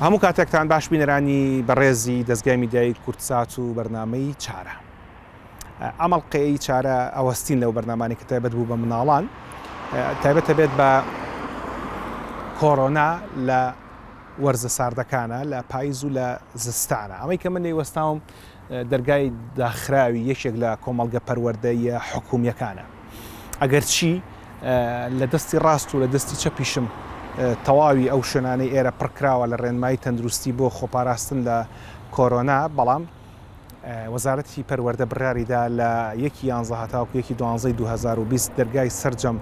هەموو کاتێکتان باش بینەرانی بەڕێزی دەستگای میدیایی کوردسات و بەرنمەی چارە ئەمەڵقەی چارە ئەوەستین لەو بەرنمانی کە تایبەت بوو بە مناڵان تایبەتە بێت بە کۆرۆنا لە وەرزە ساردەکانە لە پایز و لە زستانە ئەمەی کە من لێی وەستاوم دەرگای داخراوی یەکێک لە کۆمەڵگە پەروەردەیە حکومیەکانە ئەگەر چی لە دەستی ڕاست و لە دەستی چەپیشم تەواوی ئەو شوێنانەی ئێرە پڕکراوە لە ڕێنمایی تەندروستی بۆ خۆپاراستن لە کۆرۆنا بەڵام وەزارەتی پەروەردە بڕیاریدا لە یەکی یانزە هەتاوکو یەکی دوانزەی 2020 دەرگای سەرجەم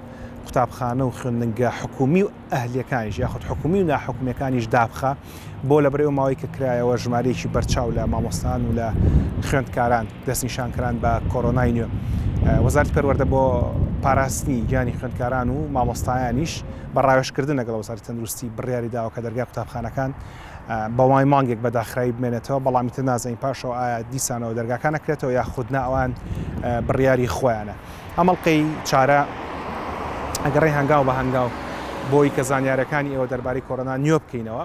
قوتابخانە و خوێندنگە حکومی و ئەهلیەکانیش یاخود حکومی و ناحکومیەکانیش دابخە بۆ لە بەرەو ماوەی کە کرایەوە ژمارەیەکی بەرچاو لە مامۆستان و لە خوێندکاران دەستنیشانکران بە کۆرۆنای نوێ وەزارت پەروەەردە بۆ پاراستنی گیانی خوێندکاران و مامۆستایانیش بە ڕاوێشکردن لەگەڵ وەزاری تەندروستی بڕیاری داوە کە دەرگای قوتابخانەکان بەوای مانگێک بە داخراوی بمێنێتەوە، بەڵامی تر نازانین پاشەوە ئایا دیسانەوە دەرگاکان ئەکرێتەوە یاخود نا ئەوان بڕیاری خۆیانە. ئەم ئەڵقەی چارە ئەگەڕێ هەنگاو بە هەنگاو بۆی کە زانیارەکانی ئێوە دەربارەی کۆرۆنا نوێ بکەینەوە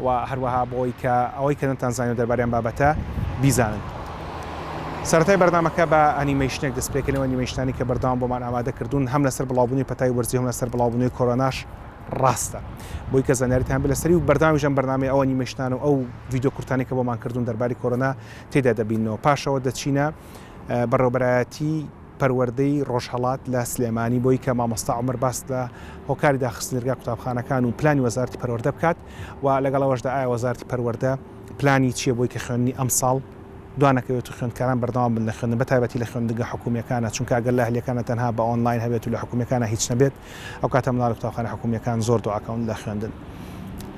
و هەروەها بۆی کە ئەوەی کە نەتان زانیو دەربارەیان بابەتە بیزانن. سەرەتای بەرنامەکە بە ئەنیمەیشنێک دەست پێکەنەوە ئەنیمەیشنانی کە بەردەوام بۆمان ئامادە کردوون هەم لەسەر بڵاوبوونی پەتای وەرزی هەم لەسەر بڵاوبوونەوەی کۆرۆناش ڕاستە بۆی کە زانیاریتان بێت لەسەری و بەردەوامیش ئەم بەرنامەی ئەوە نیمە شتان و ئەو ڤیدیۆ کورتانی کە بۆمان کردوون دەرباری کۆرۆنا تێدا دەبینەوە پاشەوە دەچینە بەڕێوبەرایەتی پەروەردەی ڕۆژهەڵات لە سلێمانی بۆی کە مامۆستا عمر باس لە هۆکاری داخستنرگا قوتابخانەکان و پلانی وەزارتی پەروەردە بکات و لەگەڵەوەشدا ئایا وەزارتی پەروەردە پلانی چییە بۆی کە خوێنی ئەم ساڵ دوانەکەوێت و خوێندکاران بەردەوام بن لە خوێندن بە تایبەتی لە خوێندگە حکومیەکانە چونکە گەر لە هەلیەکانە تەنها بە ئۆنلاین هەبێت و لە حکومیەکانە هیچ نەبێت ئەو کاتە منداڵی قوتابخانە حکومیەکان زۆر دواکەون لە خوێندن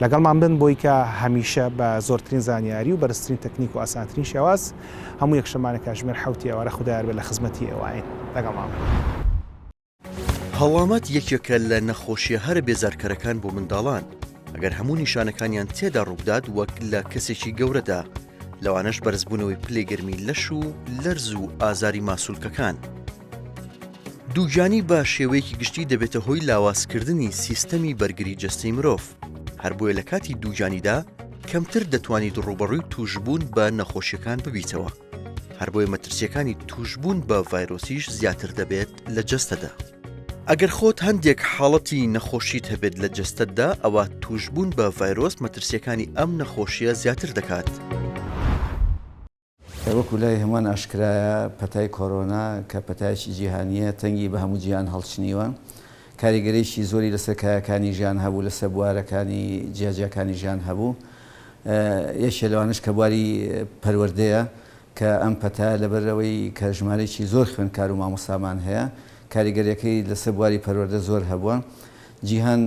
لەگەڵمان بن بۆی کە هەمیشە بە زۆرترین زانیاری و بەرزترین تەکنیک و ئاسانترین شێواز هەموو یەک شەمانە کاژمێر حەوتی ئێوارە خودایار بێت لە خزمەتی ئێواین لەگەڵمان بن. هەڵامەت یەکێکە لە نەخۆشیە هەرە بێزارکەرەکان بۆ منداڵان ئەگەر هەموو نیشانەکانیان تێدا ڕووبدات وەک لە کەسێکی گەورەدا لەوانەش بەرزبوونەوەی پلەی گەرمی لەش و لەرز و ئازاری ماسولکەکان دووگیانی بە شێوەیەکی گشتی دەبێتە هۆی لاوازکردنی سیستەمی بەرگری جەستەی مرۆڤ، هەر بۆیە لە کاتی دووگیانیدا کەمتر دەتوانیت ڕووبەڕووی تووشبوون بە نەخۆشیەکان ببیتەوە، هەر بۆیە مەترسیەکانی تووشبوون بە ڤایرۆسیش زیاتر دەبێت لە جەستەدا. ئەگەر خۆت هەندێک حاڵەتی نەخۆشیت هەبێت لە جەستەتدا، ئەوا تووشبوون بە ڤایرۆس مەترسیەکانی ئەم نەخۆشیە زیاتر دەکات. وەکو لای هەمووان ئاشکرایە پەتای کۆرۆنا کە پەتایەکی جیهانییە تەنگی بە هەموو جیهان هەڵچنیوە، کاریگەریی زۆری لەسەر کایەکانی ژیان هەبوو، لەسەر بوارەکانی جیاجیاکانی ژیان هەبوو، یەکێ لەوانەش کە بواری پەروەردەیە کە ئەم پەتایە لەبەر ئەوەی کە ژمارەیەکی زۆر خوێندکار و مامۆستامان هەیە کاریگەرییەکەی لەسەر بواری پەروەردە زۆر هەبووە، جیهان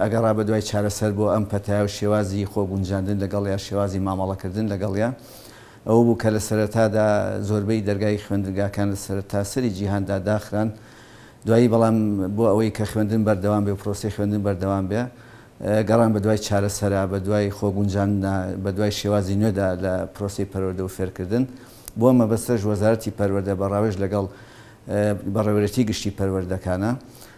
ئەگەڕا بەدوای چارەسەر بۆ ئەم پەتایە و شێوازی خۆگونجاندن لەگەڵ یا شێوازی مامەڵەکردن لەگەڵیا ئەوە بوو کە لە سەرەتادا زۆربەی دەرگای خوێندنگاکان لە سەرتاسەری جیهاندا داخران دوایی بەڵام بۆ ئەوەی کە خوێندن بەردەوام بێ و پرۆسەی خوێندن بەردەوام بێ گەڕان بەدوای چارەسەرا بەدوای خۆگونجاندنا بەدوای شێوازی نوێدا لە پرۆسەی پەروەردە و فێرکردن بۆ مەبەستەش وەزارەتی پەروەردە بە ڕاوێژ لەگەڵ بەڕێوەرێتی گشتی پەروەردەکانە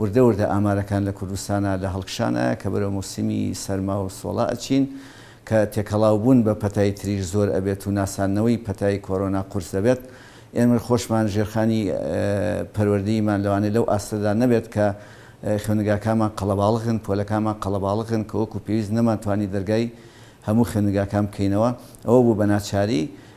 وردە وردە ئامارەکان لە کوردستانا لە هەڵکشانە کە بەرەو موسیمی سەرما و سۆڵە ئەچین کە تێکەڵاو بوون بە پەتای تریش زۆر ئەبێت و ناساندنەوەی پەتای کۆرۆنا قورس دەبێت ئێمر خۆشمان ژێرخانی پەروەردەییمان لەوانەیە لەو ئاستەدا نەبێت کە خوێندنگاکانمان قەڵەباڵغن پۆلەکانمان قەڵەباڵغن کە وەکو پێویست نەمانتوانی دەرگای هەموو خوێندنگاکان بکەینەوە ئەوە بوو بە ناچاری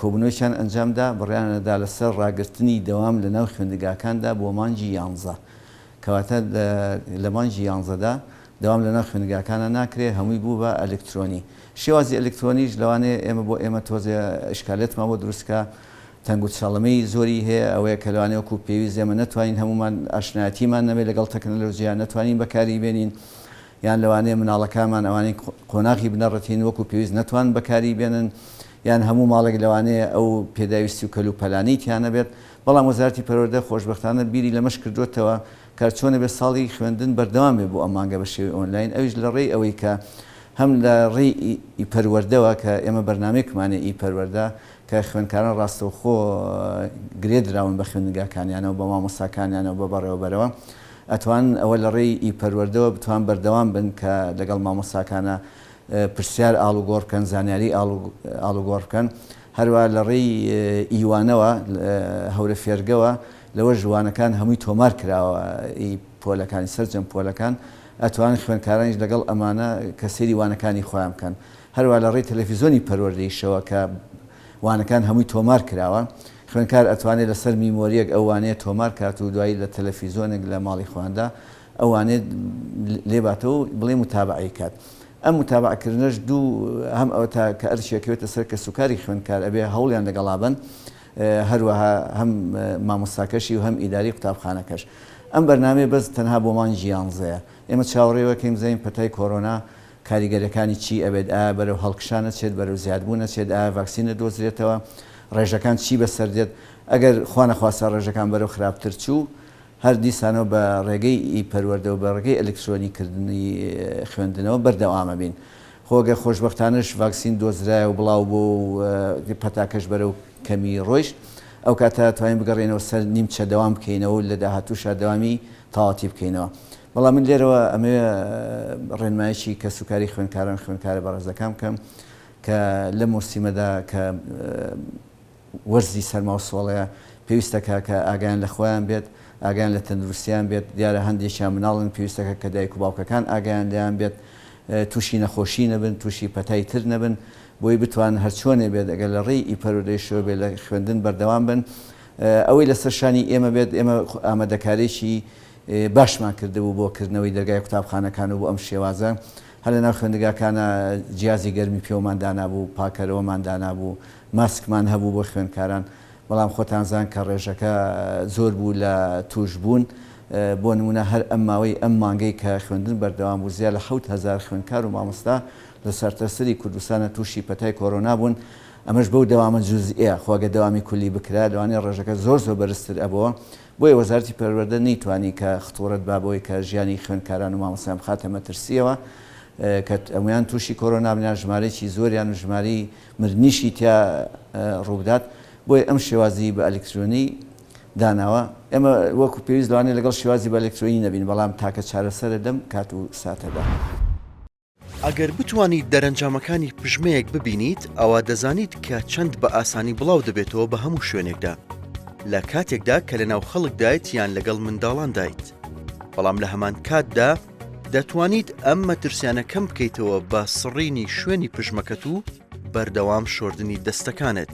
کۆبوونەوەیەکیان ئەنجامدا، بڕیاریاندا لەسەر ڕاگرتنی دەوام لەناو خوێندگاکاندا بۆ مانگی یانزە. کەواتە لە مانگی یانزەدا دەوام لەناو خوێندگاکانا ناکرێت، هەمووی بوو بە ئەلکترۆنی. شێوازی ئەلکترۆنیش لەوانەیە ئێمە بۆ ئێمە تۆزێ ئیشکالیەتمان بۆ دروست بکات، تەنگوچەڵەمەی زۆری هەیە، ئەوەیە کە لەوانەیە وەکو پێویست ئێمە نەتوانین هەموومان ئاشنایەتیمان نەبێت لەگەڵ تەکنەلۆژیا، نەتوانین بەکاری بێنین، یان لەوانەیە مناڵەکانمان ئەوانەی قۆناغی بنەڕەتین وەکو پێویست نەتوانن بەکاری بێنن یان هەموو ماڵێک لەوانەیە ئەو پێداویستی و کەلوپەلانەی تیانەبێت بەڵام وەزارەتی پەروەردە خۆشبەختانە بیری لەمەش کردۆتەوە کە چۆنەبێت ساڵی خوێندن بەردەوام بێت بۆ ئەم مانگە بە شێوەی ئۆنلاین ئەویش لە ڕێی ئەوەی کە هەم لە ڕێی ئی پەروەردەوە کە ئێمە بەرنامەیەکمانە ئی پەروەردە کە خوێندکاران ڕاستەوخۆ گرێ دراون بە خوێندنگاکانیانەوە بە مامۆستاکانیانەوە بە بەڕێوەبەرەوە ئەتوان ئەوە لە ڕێی ی پەروەردەوە بتوان بەردەوام بن کە لەگەڵ مامۆستاکانا پرسیار ئاڵوگۆڕ بکەن زانیاری ئاڵوگۆڕ بکەن هەروا لە ڕێی ی وانەوە هەورە فێرگەوە لەوەش وانەکان هەمووی تۆمار کراوە ی پۆلەکانی سەرجەم پۆلەکان ئەتوان خوێنکارانیش لەگەڵ ئەمانە کە سەیری وانەکانی خۆیان بکەن هەروا لە ڕێی تەلەفیزۆنی پەروەردەیشەوە کە وانەکان هەمووی تۆمار کراوە. خوێندکار ئەتوانێت لەسەر میمۆریەک ئەو وانەیە تۆمار کات و دوایی لە تەلەفیزۆنێک لە ماڵی خۆیاندا ئەو وانەیە لێباتەوە و بڵێ موتابەعەی کات ئەم موتابەعە کردنەش دوو هەم ئەوەتا کە ئەرکی ئەکەوێتە سەر کەسوکاری خوێندکار ئەبێ هەوڵیان لەگەڵا بەن هەروەها هەم مامۆستاکەشی و هەم ئیداری قوتابخانەکەش ئەم بەرنامەیە بەس تەنها بۆ مانگی یانزەیە ئێمە چاوەڕێوەکەین بزانین پەتای کۆرۆنا کاریگەریەکانی چی ئەبێت، ئایا بەرەو هەڵکشان ئەچێت بەرەو زیادبوون ئەچێت، ئایا ڤاکسین ئەدۆزرێتەوە، ڕێژەکان چی بەسەر دێت، ئەگەر خوا نەخواستە ڕێژەکان بەرەو خراپتر چوو هەر دیسانەوە بە ڕێگەی ئی پەروەردەو بە ڕێگەی ئەلکترۆنی کردنی خوێندنەوە بەردەوام ئەبین خۆ گەر خۆشبەختانەش ڤاکسین دۆزرایە و بڵاو بۆ و پەتاکەش بەرەو کەمی ڕۆیشت ئەو کاتە توانین بگەڕێینەوە سەر نیمچە دەوام بکەینەوە و لە داهاتووشا دەوامی تاواتی بکەینەوە. بەڵام من لێرەوە ئەمەوێ ڕێنمایەکی کەسوکاری خوێنکاران خوێنکارە بەڕێزەکان بکەم کە لە مۆسیمەدا کە وەرزی سەرما و سۆڵەیە پێویستەکە کە ئاگیان لە خۆیان بێت ئاگیان لە تەندروستیان بێت دیارە هەندێکیان مناڵن پێویستەکە کە دایک و باوکەکان ئاگیان لەیان بێت تووشی نەخۆشی نەبن تووشی پەتای تر نەبن بۆی بتوان هەرچۆنێ بێت ئەگەر لە ڕێی ئیپەرودەی شوێ بێت لە خوێندن بەردەوام بن ئەوەی لەسەر شانی ئێمە بێت ئێمە ئامادەکارێکی باشمان کردبوو بۆ کردنەوەی دەرگای قوتابخانەکان و بۆ ئەم شێوازە هەر لەناو خوێندگاکانا جیازی گەرمی پێوەمان دانابوو، پاکەرەوەمان دانابوو، ماسکمان هەبوو بۆ خوێندکاران، بەڵام خۆتان زان کە ڕێژەکە زۆر بوو لە تووشبوون، بۆ نموونە هەر ئەم ماوەی ئەم مانگەی کە خوێندن بەردەوام بوو زیا لە حەوت هەزار خوێندکار و مامۆستا لە سەرتاسەری کوردستانا تووشی پەتای کۆرۆنا بوون، ئەمەش بەو دەوامە جوزئیە، خۆ ئەگەر دەوامی کولی بکرا لەوانەیە ڕێژەکە زۆر زۆر بەرزتر ئەبۆوە، بۆیە وەزارەتی پەروەردە نەیتوانی کە خطوڕەت با بەوەی کە ژیانی خوێندکاران و مامۆستایان بخاتە مەترسییەوە کە ئەمویان تووشی کۆرۆنا بنیان ژمارەیەکی زۆریان و ژمارەی مردنیشی تیا ڕووبدات بۆیە ئەم شێوازی بە ئەلیکترۆنی داناوە ئێمە وەکو پێویست لەوانەیە لەگەڵ شێوازی بە ئەلیکترۆنی نەبین بەڵام تاکە چارەسەرە لەم کات و ساتەدا. ئەگەر بتوانیت دەرەنجامەکانی پژمەیەک ببینیت، ئەوا دەزانیت کە چەند بە ئاسانی بڵاو دەبێتەوە بە هەموو شوێنێکدا، لە کاتێکدا کە لەناو خەڵکدایت یان لەگەڵ منداڵاندایت. بەڵام لە هەمان کاتدا، دەتوانیت ئەم مەترسیانە کەم بکەیتەوە بە سڕینی شوێنی پژمەکەت و بەردەوام شۆردنی دەستەکانت.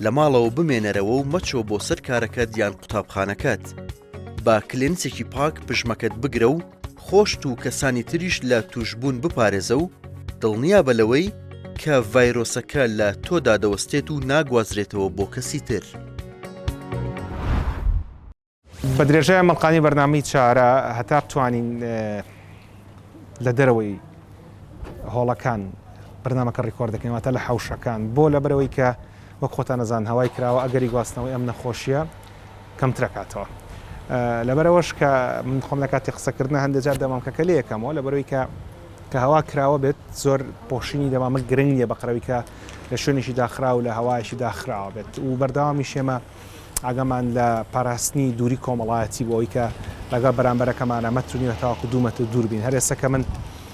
لە ماڵەوە بمێنەرەوە و مەچۆ بۆ سەر کارەکەت یان قوتابخانەکەت. با کلێنسێکی پاک پژمەکەت بگرە و خۆشت و کەسانی تریش لە تووشبوون بپارێزە و دڵنیابە لەوەی کە ڤایرۆسەکە لە تۆدا دەوەستێت و ناگوازرێتەوە بۆ کەسی تر. بە درێژای مەڵقانی بەرنامەی چارە هەتا بتوانین لە دەرەوەی هۆڵەکان بەرنمەکە ڕیکۆردەکەین واتە لە حوشەکان بۆ لە بەرەوەی کە وەک خۆتان دەزان هەوای کراوە ئەگەری گواستنەوەی ئەم نەخۆشیە کەمترەکاتەوە لەبەرەوەش کە من خۆم لە کاتی قسەکردن هەندێک جار دەمامکەکە لە یەکەمەوە لەبەرەوەی کە کە هەوا کراوە بێت زۆر پۆشینی دەمامە گرنگ نیە بەقرەویکە لە شوێنێکی داخرا و لە هەوایشی داخراوە بێت و بەردەوامی شێمە ئاگەمان لە پاراستنی دووری کۆمەڵایەتی بۆی کە لەگەڵ بەرامبەرەکەمانە مەترنیوە تاواکو دوو مەتر دووربین هەرێسەکە من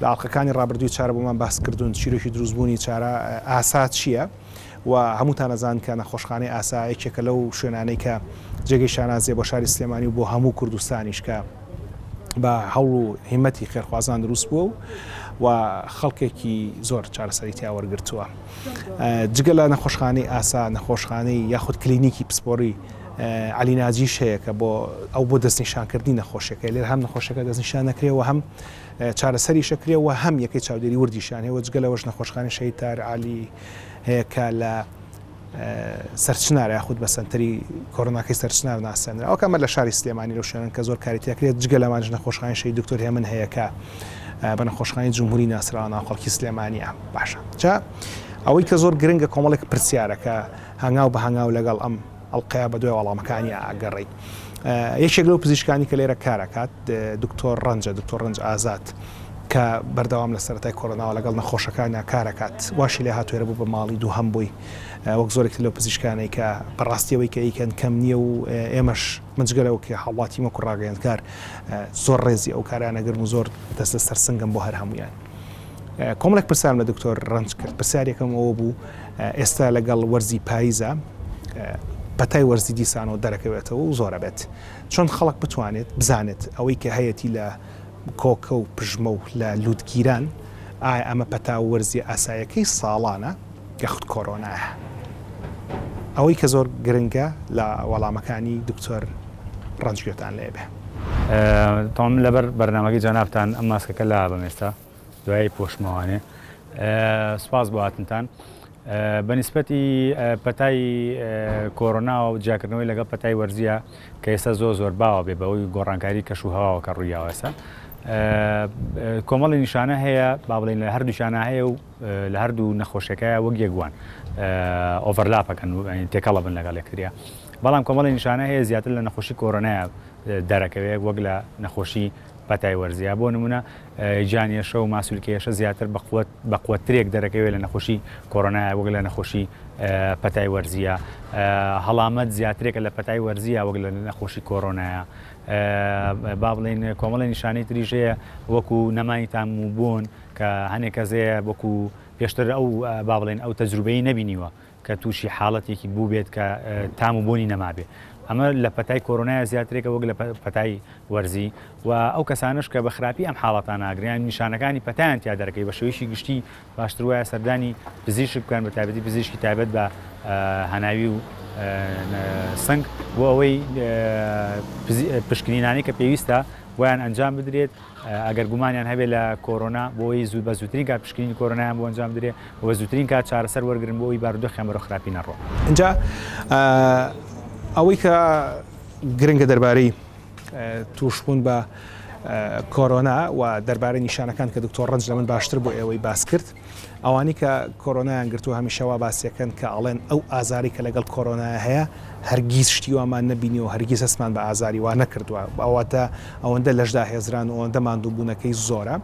لە ئاڵقەکانی ڕابردووی چارە بۆمان باس کردوون چیرۆکی دروست بوونی چارە ئاسا چییە و هەمووتان ئەزانن کە نەخۆشخانەی ئاسا یەکێکە لەو شوێنانەی کە جێگەی شانازیە بۆ شاری سلێمانی و بۆ هەموو کوردستانیش کە بە هەوڵ و هیمەتی خێرخوازان دروست بووە و و خەڵکێکی زۆر چارەسەری تیا وەرگرتووە جگە لە نەخۆشخانەی ئاسا نەخۆشخانەی یاخود کلینیکی پسپۆری علی ناجیش هەیە کە بۆ ئەو بۆ دەستنیشانکردنی نەخۆشەکە لێر هەم نەخۆشەکە دەستنیشان نەکرێەوە هەم چارەسەریش ئەکرێ و هەم یەکەی چاودێری وردیشیان هەیە و جگە لەوەش نەخۆشخانەی شەهید تار عالی هەیە کە لە سەرچنار یاخود بە سنتەری کۆرۆناکەی سەرچنار ناسێنرا ئەو کەمە لە شاری سلێمانی لەو شوێنن کە زۆر کاری تێکرێت جگە لەمانش نەخۆشخانەی شەهید دکتۆر هێمن هەیە کە بە نەخۆشخانەی جمهوری ناسراوە ناوخەڵکی سلێمانیە باشە جا ئەوەی کە زۆر گرنگە کۆمەڵێک پرسیارەکە هەنگاو بە هەنگاو لەگەڵ ئەم ئەڵقەیە بەدوای وەڵامەکانیا ئەگەڕێی. یەکێک لەو پزیشکانی کە لێرە کار ئەکات دکتۆر ڕەنجە، دکتۆر ڕەنج ئازاد، کە بەردەوام لە سەرەتای کۆرۆناوە لەگەڵ نەخۆشەکانیا کار ئەکات واشی لێ هاتووە ئێرە بوو بە ماڵی دووهەم بووی وەک زۆرێک تر لەو پزیشکانەی کە بەڕاستی ئەوەی کە ئەیکەن کەم نییە و ئێمەش من جگە لەوە کە هاوڵاتیم وەکو ڕاگەیەندکار زۆر ڕێزی ئەو کارەیان ئەگرم و زۆر دەست لەسەر سنگم بۆ هەر هەموویان. کۆمەڵێک پرسیارم لە دکتۆر ڕەنج کرد پرسیار یەکەم ئەوە بوو، ئێستا لەگەڵ وەرزی پاییزە پەتای وەرزی دیسانەوە دەرەکەوێتەوە و زۆر ئەبێت چۆن خەڵک بتوانێت بزانێت ئەوەی کە هەیەتی لە کۆکە و پژمە و لە لووتگیران ئایا ئەمە پەتا و وەرزی ئاسایەکەی ساڵانە کە خود کۆرۆنایە ئەوەی کە زۆر گرنگە لە وەڵامەکانی دکتۆر ڕەنج گوێتان لێ بێ. تام لەبەر بەرنامەکەی جەنابتان ئەم ماسکەکە لابەم ئێستا. دوای پۆش ماوانێ سپاس بۆ هاتنتان بەنیسبەتی پەتای کۆرۆناوە و جیاکردنەوەی لەگەڵ پەتای وەرزیە کە ئێستا زۆر زۆر باوە بێ بەوەی گۆڕانکاری کەش و هەواوە کە ڕوویاوەسە کۆمەڵی نیشانە هەیە با بڵین لە هەردوو شانە هەیە و لە هەردوو نەخۆشیەکەیە وەک یەکوان ئۆڤەرلاپەکەن و تێکەڵە بن لەگەڵ یەکتریا بەڵام کۆمەڵی نیشانە هەیە زیاتر لە نەخۆشی کۆرۆنایە دەرەکەوێت وەک لە نەخۆشی پەتای وەرزیە بۆ نمونە جانیەشە و ماسولکەیەشە زیاتر بەقوت بەقوەترێک دەرەکەوێت لە نەخۆشی کۆرۆنایە وەک لە نەخۆشی پەتای وەرزیە هەڵامەت زیاترێکە لە پەتای وەرزیە وەک لە نەخۆشی کۆرۆنایە با بڵین کۆمەڵی نیشانەی تریژەیە وەکو نەمانی تام و بوون کە هەنێک کەزەیە وەکو پێشتر ئەو با بڵێن ئەو تەجروبەی نەبینیوە کە تووشی حاڵەتێکی بووبێت کە تام و بۆنی نەمابێ ئەمە لە پەتای کۆرۆنای زیاترێکە وەک لە پەتای وەرزی و ئەو کەسانش کە بە خراپی ئەم حاڵەتان ناگریان نیشانەکانی پەتیان تیا دەرەکەی بە شێویشی گشتی باشتر وایە سەردانی پزیشک بکەن بە تابەتی پزیشکی تایبەت بە هەناوی و سنگ بۆ ئەوەی پشکنینانی کە پێویستە ویان ئەنجام بدرێت ئەگەر گومانیان هەبێت لە کۆرۆنا، بۆ ئەوەی زوو بە زووترین کات پشکنینی کۆرۆنایان بۆ ئەنجام بدرێت و بە زووترین کات چارەسەر وەرگرن بۆ ئەوەی بارودۆخیان بەرەو خراپی نەڕوات. ئینجا ئەوەی کە گرنگە دەربارەی تووشبوون بە کۆرۆنا و دەربارەی نیشانەکان کە دکتۆر ڕەنج لە من باشتر بۆ ئێوەی باس کرد، ئەوانی کە کۆرۆنایان گرتوە هەمیشە وا باسیەکەن کە ئەڵێن ئەو ئازاری کە لەگەڵ کۆرۆنایا هەیە هەرگیز شتی وامان نەبینیوە هەرگیز هەستمان بە ئازاری وا نەکردوە ئەوەتە ئەوەندە لەش داهێزران و ئەوەندە ماندوبونەکەی زۆرە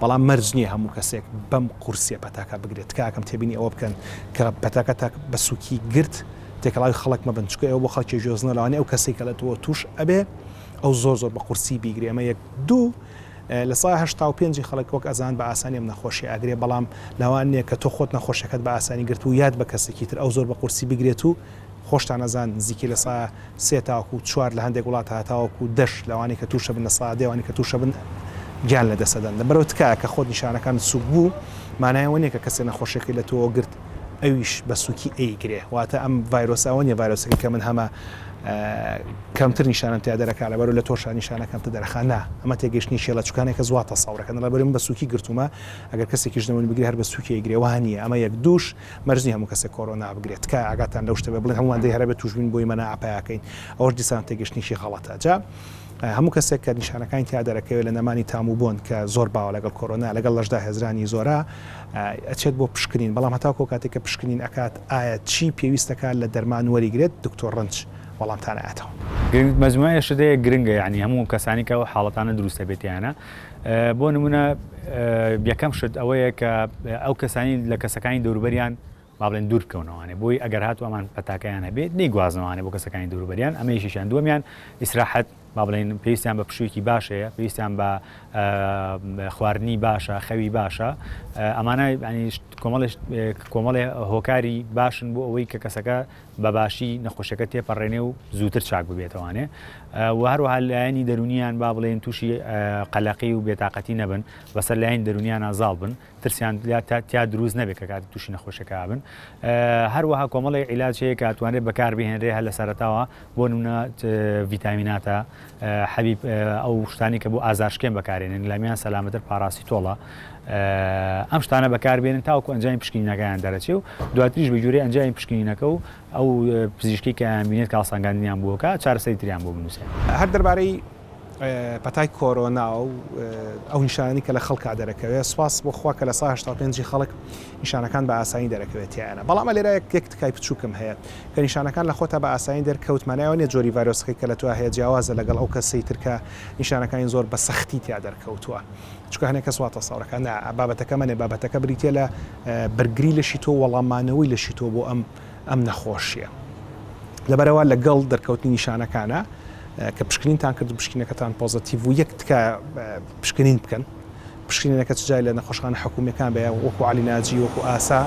بەڵام مەرج نیە هەموو کەسێک بەم قورسیە پەتاکە بگرێت تکاکەم تێبینی ئەوە بکەن کە پەتاکە تاک بە سوکی گرت تێکەڵاوی خەڵک مەبن چکە ئەو بۆ خەڵکی جۆزنە لەوانی ئەو کەسی کە لە تۆ توش ئەبێ ئەو زۆر زۆر بە قورسی بیگرێ ئەمە یەک دوو لە سەدا هەشتا و پێنج ی خەڵک وەک ئەزان بە ئاسانی ئەم نەخۆشیە ئەگرێ بەڵام لەوان نیە کە تۆ خۆت نەخۆشیەکەت بە ئاسانی گرتبو یات بە کەسێکی تر ئەو زۆر بە قورسی بگرێت و خۆشتان ئەزان نزیکی لە سەدا سێ تاوەکو چوار لە هەندێک وڵات هەتاوەکو دەش لەوانەی کە توشە بن لە سەدا دە وانی کە توشە بن گیان لە دەست ئەدەن لەبەرەوە تکایە کە خۆت نیشانەکانت سوک بو مانای ئەوە نیە کە کەسێ نەخۆشیەکەی لە تۆوە گرت ئەویش بە سوکی ئەیگرێ واتە ئەم ڤایرۆسە ئەوە نیە ڤایرۆسەکەی کە من هەمە کەمتر نیشانم تیا دەرەکە لەبەر لە تۆشا نیشانە کەمتە دەرخانە ئەمە تێگەشتنی شێ لە چکانێکە زواتە ساورەکەن لە بەرم بە سوکی گرتومە ئەگەر کەسێکیش دەمەوین بگرێ هەر بە سوکی گرێ وهانیە ئەمە یەک دوش مەرزنی هەموو کەسێک کۆرۆنا بگرێت تکە ئاگاتان لەو شتە بڵێن هەمووان دەی هەرە بە توشبین بۆی مەنا ئاپیاکەین ئەوەش دیسان تێگەشتنیشی غەڵەتە جا هەموو کەسێک کە نیشانەکانی تیا دەرەکەوێت لە نەمانی تام و بۆن کە زۆر باوە لەگەڵ کۆرۆنا لەگەڵ لەشدا هێزرانی زۆرە ئەچێت بۆ پشکنین بەڵام هەتاکو ئەو کاتەی کە پشکنین ئەکات ئایا چی پێویستە کار لە دەرمان وەریگرێت دکتۆر رەنج وەڵامتان ئەاتەوە. گرنگ مەجموعە ئێشتدەیەک گرنگە یانی هەموو کەسانی کە ئەو حاڵەتانە دروستە بێتیانە بۆ نمونە یەکەم شت ئەوەیە کە ئەو کەسانی لە کەسەکانی دەوروبەریان بابلێن دوور بکەونەوانێ بۆی ئەگەر هاتو ئەمان پەتاکەیان هەبێت نەیگوازنەوانێ بۆ کەسەکانی دەوروبەریان ئەمەیشیان دووەمیان ئیسراحەت با بڵێین پێویستیان بە پشوویەکی باش هەیە پێویستیان بە خواردنی باشە خەوی باشە ئەمانە کۆمەڵش کۆمەڵێ هۆکاری باشن بۆ ئەوەی کە کەسەکە بەباشی نەخۆشەکە تێپەڕێنێ و زووتر چاک ببێتەوانێ و هەروەها لایەنی دەرونیان با بڵێن تووشی قەلەقی و بێتاقەتی نەبن بەسەر لایەن دەرونیانە زاڵ بن ترسیان تیا دروست نەبێت کە کاتی تووشی نەخۆشەکە بن هەروەها کۆمەڵی عیلاج هەیە کاتوانێت بەکار بهێنرێ هە لە سەرتاوە بۆ نمونە ڤیتامیناتە حەبیب ئەو شتانی کە بۆ ئازارشکێن بەکارێنن لامیان سەلامەتر پاراسی تۆڵە ئەم شتانە بەکاربێنن تاوکو ئەنجامی پشکینەکەیان دەرەچێ و دواتریش بە جوورێ ئەنجامی پشکینەکە و ئەو پزیشکی کە بینێت کاسانگاندنیان بووکە چارەسەری تریان بۆ بنووسێ هەر دەربارەی پەتای کۆرۆنا و ئەو نیشانانی کە لە خەڵکا دەرەکەوێت سوپاس بۆ خوا کە لە سا هەشتا و پێنج ی خەڵک نیشانەکان بە ئاسانی دەرەکەوێت تیایانە بەڵام ئە لێرا یەک تکای پچووکم هەیە کە نیشانەکان لە خۆتا بە ئاسانی دەرکەوت مانای ئەوە نیە جۆری ڤایرۆسەکەی کە لە تۆا هەیە جیاوازە لەگەڵ ئەو کەسەی تر کە نیشانەکانی زۆر بە سەختی تیا دەرکەوتووە چونکە هەنێک کەس وا تەسەور دەکات نا بابەتەکە ئەمە نیە بابەتەکە بریتیە لە بەرگری لەشی تۆ وەڵامانەوەی لەشی تۆ بۆ ئەم ئەم نەخۆشیە لەبەرەوە لەگەڵ دەرکەوتنی نیشانەکانە کە پشکنینتان کرد پشکینەکەتان پۆزتیڤ و یەک تکە پشکنین بکەن پشکینەکە چجای لە نەخۆشخانە حکومیەکان بە وەکو علی ناجی وەکو ئاسا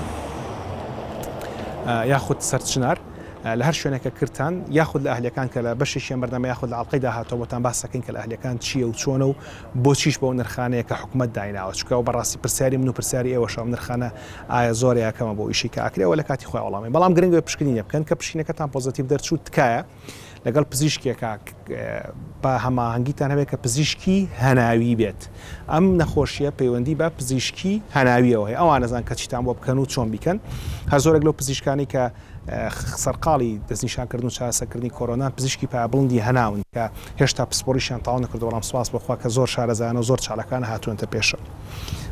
یاخود سەرچنار لە هەر شوێنەکە کرتان یاخود لە ئەهلەکان کە لە بەشێکیان بەردەمە یاخود لە ئەڵلقەی داهاتەوەتان باسەکەین کە لە ئەهلەکان چییە و چۆنە و بۆچیش بەو نرخانەیە کە حکوومەت دایناوە چکە و بەڕاستی پرسیاری من و پرسیاری ئێوەشەوە نرخانە ئایا زۆر یا کەمە بۆ ئیشی کە ئەکرێ ئەوە لە کاتی خۆی وەڵامە بەڵام گرنگ بێ پشکنینە بکەن کە پشکینەکەتان پۆزەتیڤ دەرچوو تکایە لەگەڵ پزیشکێکە بە هەماهەنگیتان هەبێت کە پزیشکی هەناوی بێت ئەم نەخۆشیە پەیوەندی بە پزیشکی هەناویەوە هەیە ئەوان نەزان کە چیتان بۆ بکەن و چۆن بیکەن هەر زۆرێک لەو پزیشکانی کە سەرقاڵی دەستنیشانکردن و چارەسەرکردنی کۆرۆنان، پزیشکی پایە بڵندی هەناون کە هێشتا پسپۆڕیشیان تەواو نەکردووە، بەڵام سوپاس بۆ خوا کە زۆر شارەزایانە و زۆر چالاکانە هاتوونەتە پێشەوە.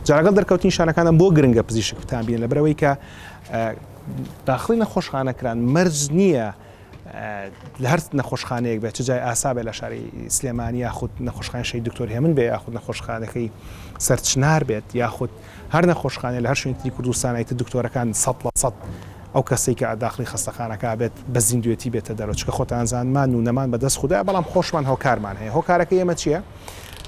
جا لەگەڵ دەرکەوتنی نیشانەکاندا بۆ گرنگە پزیشک بتانبینێت، لەبەرئەوەی کە داخڵی نەخۆشخانە کران مەرج نییە لە هەر نەخۆشخانەیەک بێت، چ جای ئاسا بێت لە شاری سلێمانی یاخود نەخۆشخانەی شەهید دکتۆر هێمن بێت یاخود نەخۆشخانەکەی سەرچنار بێت یاخود هەر نەخۆشخانەی لە هەر شوێنی تری کوردستان ئیتر دکتۆرەکان سەد لە سەد ئەو کەسەی کە ئەداخڵی خەستەخانەکە ئەبێت بە زیندوێتی بێتە دەرەوە چونکە خۆتان زان مان و نەمان بە دەست خودایە بەڵام خۆشمان هۆکارمان هەیە هۆکارەکەی ئێمە چیە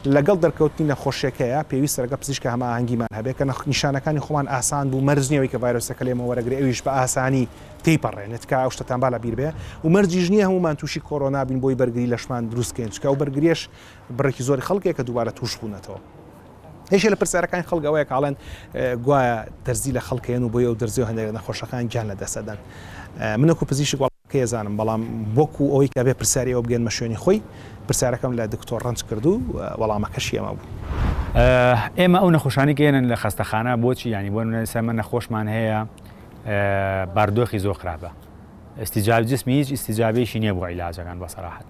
لەگەڵ دەرکەوتنی نەخۆشیەکەیە پێویستە لەگەڵ پزیشکە هەماهەنگیمان هەبێت کە نیشانەکانی خۆمان ئاسان بوو مەرج نیەوەی کە ڤایرۆسەکە لێمە وەرەگری ئەویش بە ئاسانی تێپەڕێنێت کە ئەو شتتان با لە بیربێ و مەرجیش نییە هەمومان تووشی کۆرۆنا بین بۆی بەرگری لەشمان دروستکەین چکە و بەرگریش بڕێکی زۆری خەڵکێک کە دووبارە تووش بوونەتەوە یەکێ لە پرسیارەکانی خەڵک ئەوەیە کە ئەڵێن گوایە دەرزی لە خەڵکێن و بۆی ئەو دەرزی و هەندێک نەخۆشەکان گیان لە دەسەدەن منەکو پزیشک وڵکەیە زانم بەڵام وەکو ئەوەی کە بێ پرسیاری ئەو بگەنمە شوێنی خۆی پرسیارەکەم لە دکتۆر ڕنج کردو وەڵامەکەشی ئەمە بوو. ئێمە ئەو نەخۆشانی گەێنن لە خەستەخانە بۆچی ینی بۆ نەسەمە نەخۆشمان هەیە باردۆخی زۆر خراپە ئەستیجاب جسمی هیچ ئیسیجابێکی نییە بۆ عیلاجەکان بە سەراحەت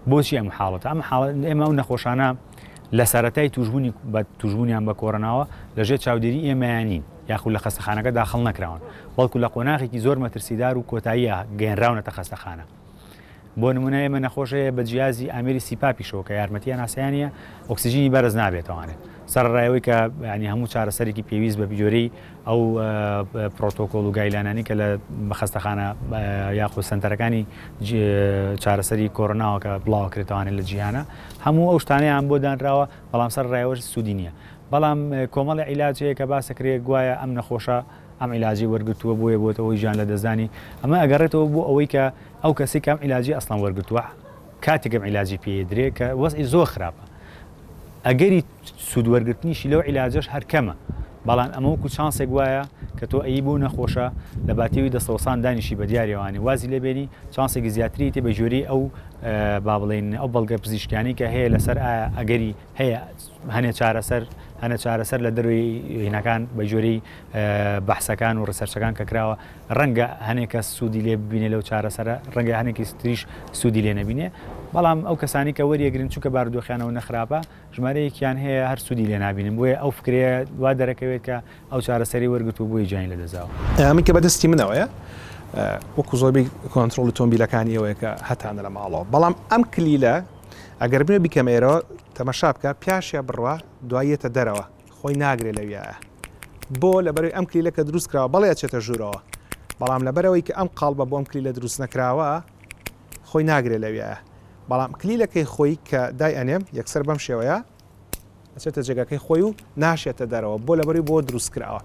بۆچی ئەم حاڵەت ئەم حاڵەت ئێمە و نەخۆشانە لە سەرەتای تووشبوونی بە تووشبوونیان بە کۆرۆناوە لە ژێر چاودێری ئێمەیان نین یاخود لە خەستەخانەکە داخڵ نەکراون بەڵکو لە قۆناغێکی زۆر مەترسیدار و کۆتاییە گەێنراونەتە خەستەخانە بۆ نمونە ئێمە نەخۆشەیە بە جیازی ئامری سیپا پیشەوە کە یارمەتیە ناسیانە ئۆکسسیژینی بەرز نابێتوانێت سەرڕایەوەی کە ینی هەموو چارەسەرێکی پێویست بە بجۆرەی ئەو پرۆتۆکۆڵ و گایلانانی کە لە خەستەخانە یاخود سەنتەرەکانی چارەسەری کۆرۆناوە کە بڵاوە کرێتوانێت لە جیهانە هەموو ئەو شتانەیان بۆ دانراوە بەڵام سەر ڕایوەش سوودی نییە بەڵام کۆمەڵی عیلاجەیە کە باسەکرێ گوایە ئەم نەخۆشە ئەم عیلاجی وەرگتووە بۆیە بۆتە ئەوی ژیان لە دەستدانی ئەمە ئەگەڕێتەوە بۆ ئەوەی کە ئەو کەسی کەم عیلاجی ئەسڵان وەرگتووە کاتێکم عیلاجی پێدرێ کە وەزی زۆر خراپە ئەگەری سود وەرگرتنیشی لەو عیلاجەش هەر کەمە بەڵام ئەمە وەکو چانسێک وایە کە تۆ ئەیی بۆ نەخۆشە لە باتێوی دەستەوەسان دانیشی بە دیاری ئەوانی وازی لێ بێنی چانسێکی زیاتری تێ بە گوێرەی ئەو با بڵێن ئەو بەڵگە پزیشکیانی کە هەیە لەسەر ئایا ئەگەری هەیە هەنێ چارەسەر هەنە چارەسەر لە دەروی هینەکان بە گوێرەی بەحسەکان و ڕسەرچەکان کە کراوە ڕەنگە هەنێکە سوودی لێ ببینێ لەو چارەسەرە ڕەنگە هەنێکی تریش سوودی لێ نەبینێ بەڵام ئەو کەسانی کە وەریەگرن چووکە بارودۆخیانەوە نەخراپە ژمارەیەکیان هەیە هەر سوودی لێ نابینن، بۆیە ئەو فکرەیە وا دەرەکەوێت کە ئەو چارەسەری وەرگرت و بۆیە گیانی لەدەستداوە. ئەمەی کە بەدەستی منەوەیە وەکو زۆربەی کۆنترۆڵی تۆمبیلەکانی ئێوەیە کە هەتانە لە ماڵەوە، بەڵام ئەم کلیلە ئەگەر بمێ بیکەمە ئێرەوە تەمەشا بکە پیاشە بڕوا دوای یەتە دەرەوە خۆی ناگرێ لەویایە بۆ؟ لەبەرەوەی ئەم کلیلە کە دروست کراوە بەڵێ ئەچێتە ژوورەوە بەڵام لەبەرەوەی کە ئەم قاڵبە بۆ ئەم کلیلە دروست نەکراوە، خۆی ناگرێ لەویایە بەڵام کلیلەکەی خۆی کە دای ئەنێم یەکسەر بەم شێوەیە ئەچێتە جێگەکەی خۆی و ناشێتە دەرەوە بۆ لەبەری بۆ دروستکراوە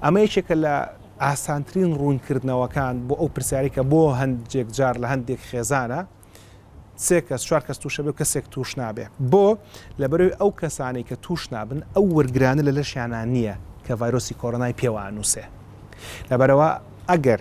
ئەمە یەکێکە لە ئاسانترین ڕوونکردنەوەکان بۆ ئەو پرسیاری کە بۆ هەندێک جار لە هەندێک خێزانە سێ کەس چوار کەس تووشە بێ کەسێک توش نابێ بۆ لەبەرەوەی ئەو کەسانی کە توش نابن ئەو وەرگرانە لە لەشیانان نییە کە ڤایرۆسی کۆرۆنای پێوانووسێ لەبەرەوە ئەگەر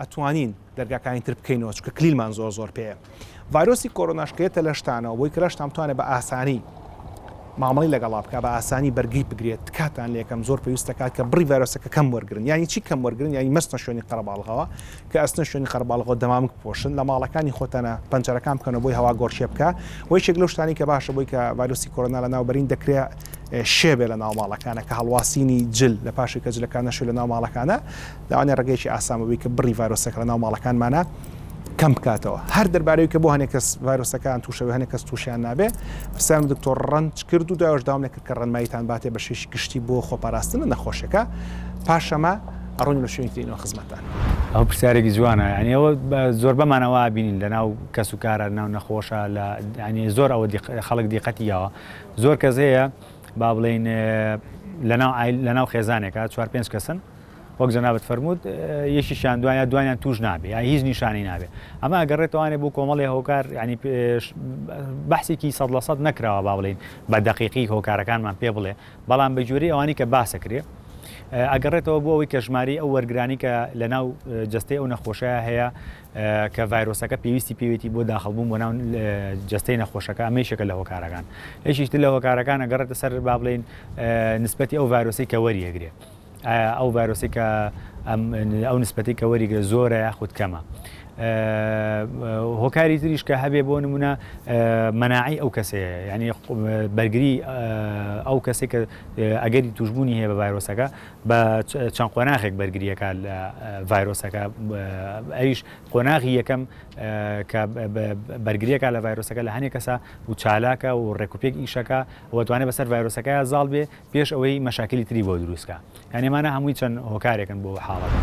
ئەتوانین دەرگاکانی تر بکەینەوە چونکە کلیلمان زۆر زۆر پێیە ڤایرۆسی کۆرۆناش کێتە لەشتانەوە بۆی کەلەشتان بتوانێت بە ئاسانی مامەڵی لەگەڵا بکە بە ئاسانی بەرگری بگرێت تکاتان لەکەم زۆر پێویستەکات کە بڕی ڤایرۆسەکە کەم وەرگن ینی چی کەم وەرگن ینی مەستە شوێنی قەرەباڵغەوە کە ئەستە شوێنی قەرباڵغەوە دەمامک پۆشن لە ماڵەکانی خۆتانە پەنجەرەکان بکەنە بۆی هەوا گۆڕچێ بکە و یەکێک لەو شتانی کە باشە بۆی کە ڤایرۆسی کۆرۆنا لە ناوبەرین دەکرێت شێبێ لە ناو ماڵەکانە کە هەڵواسینی جل لە پاشی کە جلەکانە شوێ لە ناو ماڵەکانە لەوانەیە ڕێگەیەکی ئاسان بووبێت کە بڕی ڤایرۆسەکە لە ناو ماڵەکانمانە کەم بکاتەوە هەر دەربارەوەی کە بۆ هەنێک کەس ڤایرۆسەکان تووشەوە هەنێک کەس تووشیان نابێ پرسیارم دکتۆر ڕەنج کرد و داوش داوام نەکرد کە ڕەنماییتان باتێ بە شێش گشتی بۆ خۆپاراستن لە نەخۆشەکە پاشەمە ئەڕۆین لە شوێنی ترینەوە خزمەتان ئەو پرسیارێکی جوانە یانەوە زۆر بەمانەوە بینین لە ناو کەس و کارە ناو نەخۆشە لە ینی زۆر ئەوە خەڵک دیقەتی یاوە زۆر کەس هەیە با بڵین لەناو لەناو خێزانێکە چوار پێنج کەسن وەک جەنابت فەرمووت یەکیشیان دوایە دوانیان توش نابێ یا هیچ نیشانی نابێ ئەمە ئەگەڕێتوانێ بۆ کۆمەڵی هۆکار ینی بەحسێکی سەد لە سەد نەکراوە با بڵین بە دقیقی هۆکارەکانمان پێ بڵێ بەڵام بە گوێری ئەوانی کە باسەکرێ ئەگەڕێتەوە بۆ ئەوەی کەژماری ئەو وەرگرانی کە لە ناو جستەی ئەو نەخۆشەیە هەیە کە ڤایرۆسەکە پێویستی پێویستی بۆ داخڵبوون بۆ ناو جستەی نەخۆشەکە ئەمەیشەکە لە هۆکارەکان یەکیشتر لە هۆکارەکانە گەڕێتە سەر با بڵین نسبەتی ئەو ڤایرۆسی کە وەریەگرێت ئایا ئەو ڤایرۆسی کە ئەو نسبەتی کە وەریگرە زۆرە یاخود کەمە هۆکاری تریش کە هەبێ بۆ نمونە مەناعی ئەو کەسەیە ینی بەرگری ئەو کەسێک کە ئەگەری توشببوونی هەیە بە ڤایرۆسەکە بە چەند قۆناغێک بەرگریەکە لە ڤایرۆسەکە ئەویش قۆناغی یەکەم کە بەرگریەکە لە ڤایرۆسەکە لە هەنێک کەسە و چالاکە و ڕێکوپێک ئیشەکە وەتوانێت بەسەر ڤایرۆسەکە زاڵ بێ پێش ئەوەی مەشاکلی تری بۆ دروستکە یان ئێمانە هەمووی چەند هۆکارێکن بۆ حاڵەکە.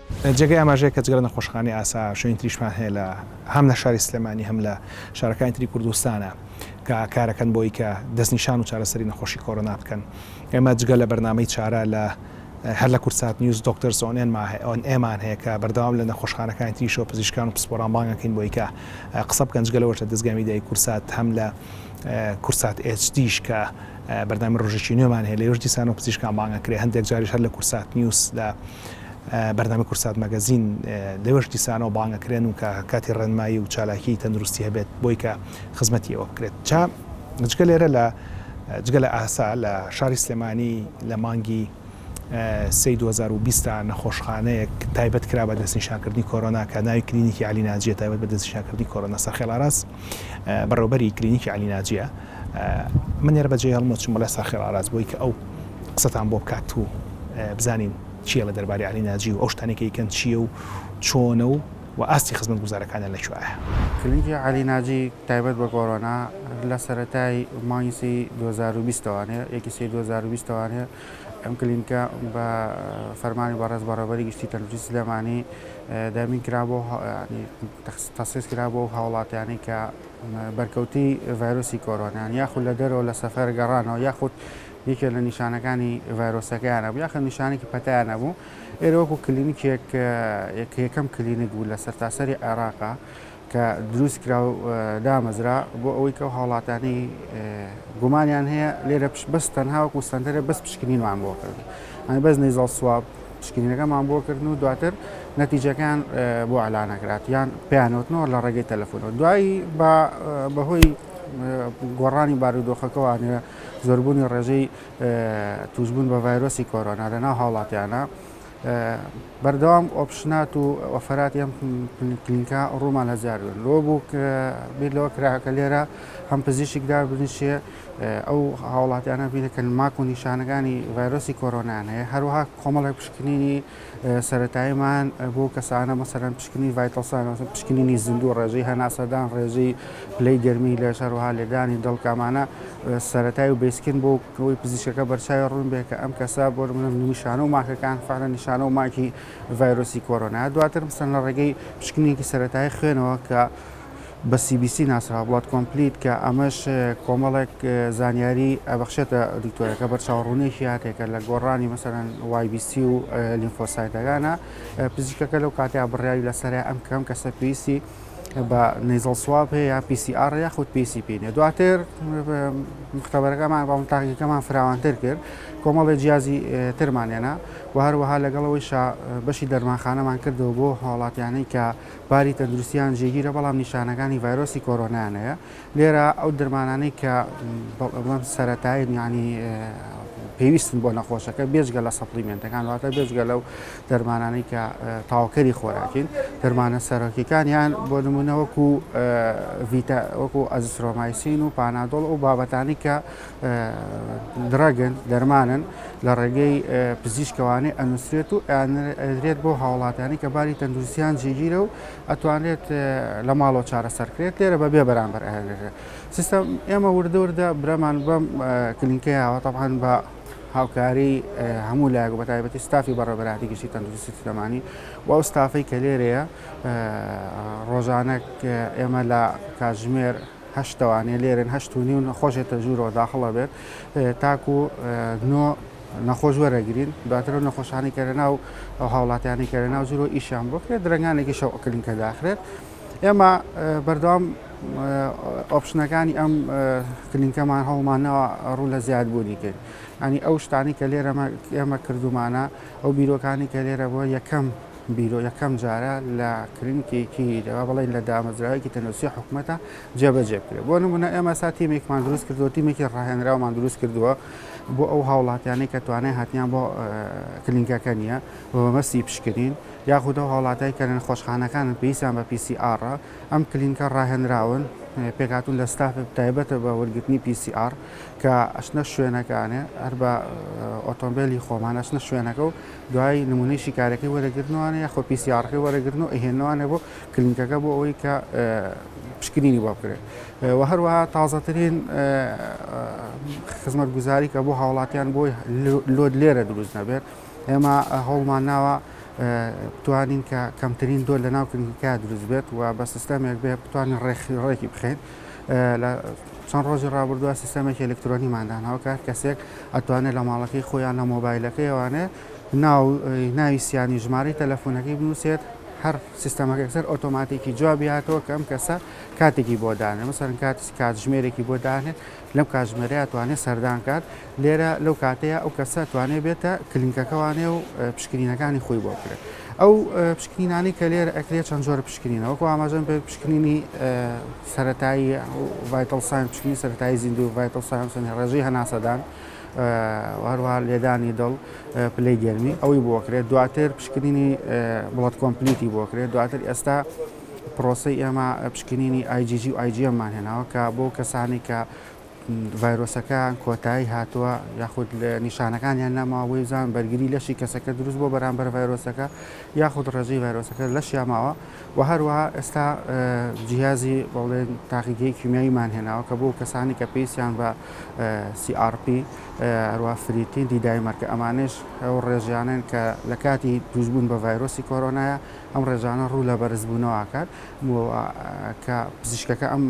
جێگەی ئاماژەیە کە جگە لە نەخۆشخانەی ئاسا شوێنی تریشمان هەیە لە هەم لە شاری سلێمانی هەم لە شارەکانی تری کوردستانە کە کارەکەن بۆی کە دەستنیشان و چارەسەری نەخۆشی کۆرۆنا بکەن ئێمە جگە لە بەرنامەی چارە لە هەر لە کوردسات نیوز دۆکتەرس ئۆن ئێمان هەیە کە بەردەوام لە نەخۆشخانەکانی تریشەوە پزیشکان و پسپۆران بانگەکەین بۆی کە قسە بکەن جگە لەوەش لە دەزگای میدیایی کوردسات هەم لە کوردسات ئێچ دیش کە بەردامی ڕۆژێکی نوێمان هەیە لەوێش دیسانەوە پزیشکان بانگەکرێ هەندێک جاریش هەر لە کوردسات نیوز لە بەرنامەی کوردسات مەگەزین لەوێش دیسانەوە بانگەکرێن و کە کاتی ڕێنمایی و چالاکی تەندروستی هەبێت بۆی کە خزمەتی ئەوە بکرێت چا جگە لێرە لە جگە لە ئاسا لە شاری سلێمانی لە مانگی سی 2020 نەخۆشخانەیەک تایبەت کرا بە دەستنیشانکردنی کۆرۆنا کە ناوی کلینیکی علی ناجیە تایبەت بە دەستنیشانکردنی کۆرۆنا سەرخێڵاراس بەڕێوبەری کلینیکی علی ناجیە من لێرە بەجێ هەڵمە چوم بەڵێ ساخێڵ ئاراز بۆی کە ئەو قسەتان بۆ بکات و بزانین چیە لە دەرباری علی ناجی و ئەو شتانێکی کەن چیە و چۆنە و و ئاستی خزمەت گوزارەکانە لە کوایە کلینکی علی ناجی تایبەت بە گۆڕۆنا لە سەرەتای مانگی سی 2020 وانێ یەکی سی 2020 وانێ ئەم کلینکە بە فەرمانی بەڕێز بەڕێوەبەری گشتی تەندروستی سلێمانی دابین کرا بۆ تەخسیس کرا بۆ هاوڵاتیانی کە بەرکەوتی ڤایرۆسی کۆرۆنیان یاخود لە دەرەوە لە سەفەر گەڕانەوە یاخود یەکێ لە نیشانەکانی ڤایرۆسەکەیانە بوو یاخە نیشانێکی پەتیانە بوو ئێرە وەکو کلینیکێک یەکەم کلینیک بوو لە سەرتاسەری عێراقا کە دروستکرا و دامەزرا بۆ ئەوەی کە ئەو هاوڵاتیانەی گومانیان هەیە لێرە بەس تەنها وەکو سەنتەرە بەس پشکنینمان بۆ کردن ئەنی بەس نەیزەڵ سواب پشکنینەکەمان بۆ کردن و دواتر نەتیجەکان بۆ ئالانەکرات یان پێیانوتنەوە لە ڕێگەی تەلەفۆنەوە دوایی بە بەهۆی گۆڕانی بارودۆخەکەوانە زۆربوونی ڕێژەی توشببوون بە ڤایرۆسی کۆرۆنا لەناو هاوڵاتیانە بەردەوام ئۆپشنات و ئۆفەرات ئەم کلینکە ڕوومان هەزارن لۆ بوو بیر لەوە کراکە لێرە هەم پزیشک دا بنیشێ ئەو هاوڵاتیانە بینەکەن ماک و نیشانەکانی ڤایرۆسی کۆرۆنایان هەیە هەروەها کۆمەڵێک پشکنینی سەتاییمان بۆ کەسانە مەسەرەن پشکنی ڤایتەڵسان پشکنینی زیندوو ڕێژەی هەناسەدان ڕێژەی پلەی گەرمی لە شەروها لێدانی دڵکامانە سەتای و بسکن بۆ ئەوەی پزیشکەکە بەرچاوی ڕوون بێ کە ئەم کەسە بۆ نمونە نیشانە و ماکەکان فعلا نیشانە و ماکی ڤایرۆسی کۆرۆنایە دواتر مثلا لە ڕێگەی پشکنینێکی سەرەتایی خوێنەوە کە بە CBC ناسراوە بڵات کۆمپلیت کە ئەمەش کۆمەڵێک زانیاری ئەبەخشێتە دکتۆرەکە بەرچاوڕوونێکی هاتێکە لە گۆڕانی مەسەرەن YBC و لیمفۆسایتەکانە پزیشکەکە لەو کاتیا بڕیاری لەسەر ئەم کەم کەسە پێویستی بە نەیزەڵ سواب هەیە یان پی سی ئاڕ یاخود پی سی پی نیە دواتر مختبەرەکەمان بە تاقیەکەمان فراوانتر کرد کۆمەڵی جیازی ترمانێنا و هەروەها لەگەڵەوەی شا بەشی دەرمانخانەمان کردەوە بۆ هاوڵاتیانەی کە باری تەندروستیان جێگیرە بەڵام نیشانەکانی ڤایرۆسی کۆرۆنایانەیە لێرە ئەو دەرمانانەی کە بڵێم سەرەتایین یعنی پێویستن بۆ نەخۆشەکە بێجگە لە سەپلیمنتەکان واتە بێجگە لەو دەرمانانەی کە تاوکەری خۆراکین دەرمانە سەرۆکیەکان یان بۆ نمونە وەکو ڤیتا وەکو ئەزسرۆمایسین و پانادۆڵ و بابەتانی کە درەگن دەرمانن لە ڕێگەی پزیشکەوانی ئەنووسێت و ئەدرێت بۆ هاوڵاتیانی کە باری تەندروستیان جێگیرە و ئەتوانرێت لە ماڵەوە چارەسەر کرێت لێرە بە بێ بەرامبەر ئەهێنێت سیستم ئێمە وردە وردە برەمان بەم کلینکە یاوە تەبان بە هاوکاری هەموو لایەک بە تایبەتی ستافی بەڕێبەراتی گشتی تەندروستی سلێمانی و ئەو ستافەی کە لێرەیە ڕۆژانە ئێمە لە کاژمێر هەشت دەوانێ لێرن هەشت و نیو نەخۆشێ تەژوورەوە داخڵە بێت تاکو نۆ نەخۆش وەرەگرین دواترە نەخۆشانی کەرە ناو ئەو هاوڵاتیانی کەرە ناو زیرۆ ئیشیان بکرێت درنگانێکی شەو ئەکرین کە داخرێت ئێمە بەردەوام ئۆپشنەکانی ئەم کلینکەمان هەوڵمانەوە ڕوو لە زیاد بوونی کرد ئەنی ئەو شتانی کە لێرەمە ئێمە کردومانە ئەو بیرۆکانی کە لێرە بۆ یەکەم بیرۆ یەکەم جارە لە کلینیکێکی دەوا بڵێن لە دامەزراوەیەکی تەندروستی حکوومەتە جێبەجێ بکرێت بۆ نمونە ئێمە سا تیمێکمان دروست کردو تیمێکی ڕاهێنراومان دروست کردووە بۆ ئەو هاوڵاتیانەی کە توانای هاتیان بۆ کلینکەکە نییە بۆ بەمەستی پشکنین یاخود ئەو هاوڵاتای کە لە نەخۆشخانەکانن پێویستیان بە پیسی ئاڕە ئەم کلینکە ڕاهێنراون پێکاتون لە ستاف تایبەتە بە وەرگرتنی پیسی ئار کە ئەشنە شوێنەکانێ هەر بە ئۆتۆمبیلی خۆمان ئەشنە شوێنەکە و دوای نمونەی شیکارەکەی وەرەگرنوانە یاخۆ پی سی ئاڕەکەی وەرەگرن و ئەیهێننەوانە بۆ کلینکەکە بۆ ئەوەی کە پشکنینی بۆ بکرێت و هەروەها تازەترین خزمەت گوزاری کە بۆ هاوڵاتیان بۆی لۆد لێرە دروست نەبێت ئێمە هەوڵمان ناوە بتوانین کە کەمترین دۆ لە ناو کلینکە دروست بێت و بە سیستەمێک بێ بتوانین ڕێکی ڕێکی بخەین لە چەند ڕۆژی ڕابردووە سیستەمێکی ئەلکترۆنیمان داناوە کە هەر کەسێک ئەتوانێت لە ماڵەکەی خۆیان لە مۆبایلەکەی ئەوانێ ناو ناوی سیانی ژماری تەلەفۆنەکەی بنووسێت هەر سیستەمەکە سەر ئۆتۆماتیکی جوابی هاتەوە کە ئەم کەسە کاتێکی بۆ دانێ مەسەرن کات کاتژمێرێکی بۆ دانێت لەم کاتژمێرەیە توانێت سەردان کات لێرە لەو کاتەیە ئەو کەسە توانێ بێتە کلینکەکە وانێ و پشکنینەکانی خۆی بۆ بکرێت ئەو پشکنینانی کە لێرە ئەکرێت چەند جۆرە پشکنینەوە کو ئاماژەن پێ پشکنینی سەتایی ڤایتڵ ساین پشکنی سەتایی زیندو ڤایتڵ ساینسن ڕێژەی هەناسەدان هەروە لێدانی دڵ پلی گەرمی ئەوەی بۆکرێت دواتر پشکنینی بڵەت کۆمپلیتی بۆکرێت دواتر ئێستا پرۆسی ئێمە پشکنینی ئایجیجی و ئایجیەممان هێناوە کە بۆ کەسانی کە ڤایرۆسەکەیان کۆتایی هاتووە یاخود نیشانەکانیان نەماوە بۆ زان بەرگری لەشی کەسەکە دروست بۆ بەرامبەر ڤایرۆسەکە یاخود ڕێژەی ڤایرۆسەکە لەشیا ماوە و هەروەها ئێستا جیازی بەڵێن تاقیگەی کیمیاییمان هێناوە کە بۆ کەسانی کە پێیسیان بە CRP هەروە فریتین دیدای مەرکە ئەمانش ئەو ڕێژیانن کە لە کاتی دروستبوون بە ڤایرۆسی کۆرۆنایە ئەم ڕێژانە ڕوو لە بەرزبوونەوە ئەکات و کە پزیشکەکە ئەم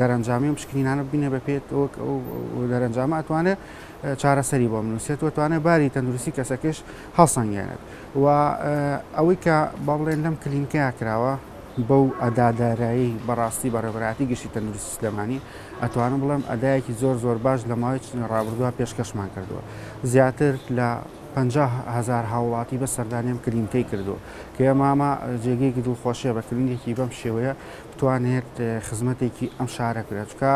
دەرەنجامی و پشکنینانە ببینێ بە پێت دەرەنجامە ئەتوانێت چارەسەری بۆ منوسێت و توانێت باری تەندروستی کەسەکەش هەڵسەنگێنێت و ئەوەی کە با بڵێن لەم کلینکەیە کراوە بەو ئەدادارایی بەڕاستی بەڕێبراتی گشتی تەندروستی سلێمانی ئەتوانم بڵێم ئەدایەکی زۆر زۆر باش لە ماوەی چنی ڕابردووە پێشکەشمان کردووە زیاتر لە 500هزار هاوڵاتی بە سەردانیم کلینکەی کردووە کە یەماما جێگەیەکی دڵخۆشیە بە کلینیکی بەم شێوەیە بتوانێت خزمەتێکی ئەم شارە کرێت چکە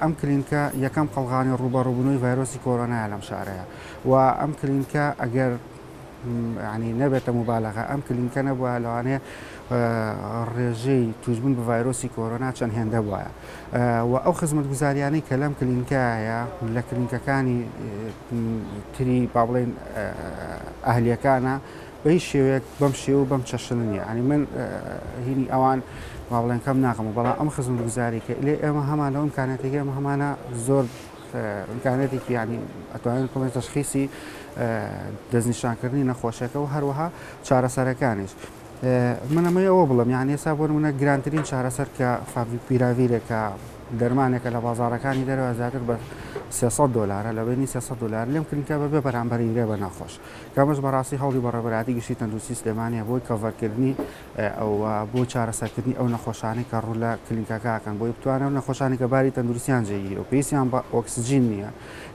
ئەم کلینکە یەکەم قەلغانی ڕوبەڕوبنەوەی ڤایرۆسی کۆرۆنایە لەم شارەیە و ئەم کلینکە ئەگەر ینی نەبێتە مبالەغە ئەم کلینکە نەبووە لەوانەیە ڕێژەی توشبوون بە ڤایرۆسی کۆرۆنا چەند هێندە وایە و ئەو خزمەت گوزاریانەی کە لەم کلینکایە لە کلینکەکانی تری با بڵێن ئەهلیەکانە بە هیچ شێوەیەک بەم شێوە و بەم چەشنە نییە. یانی من هینی ئەوان وابڵێن کەم ناکەمەوە، بەڵام ئەم خزمەتگوزاریی کە ئیلێ ئێمە هەمان لەو ئیمکانیاتێکی ئێمە هەمانە زۆر ئیمکانیاتێکی یانی ئەتوانین بڵێن تەشخیسی دەستنیشانکردنی نەخۆشەکە و هەروەها چارەسەرەکانیش. من ئەمەی ئەوە بڵم یان ئێستا بۆ منە گرانترین چارەسەر کە فاڤی پیراویرێکە دەرمانێکە لە بازارەکانی دەرەوە زیاتر بە 300 دلارە لە بینی 300 دلار لێم کردکە بە بێ بەرامبەری درێ بە ناخۆش. کەمەش بەڕاستی هەوڵی بە ڕێبەرایەتی گشتی تەندروستی سلێمانیە بۆی کەڤەرکردنی ئەو بۆ چارەسەرکردنی ئەو نەخۆشانەی کە ڕوو لە کلینکەکە ئەکەن بۆی بتوانێت ئەو نەخۆشانی کە باری تەندروستیان جێگیر و پێویستیان بە ئۆکسجین نییە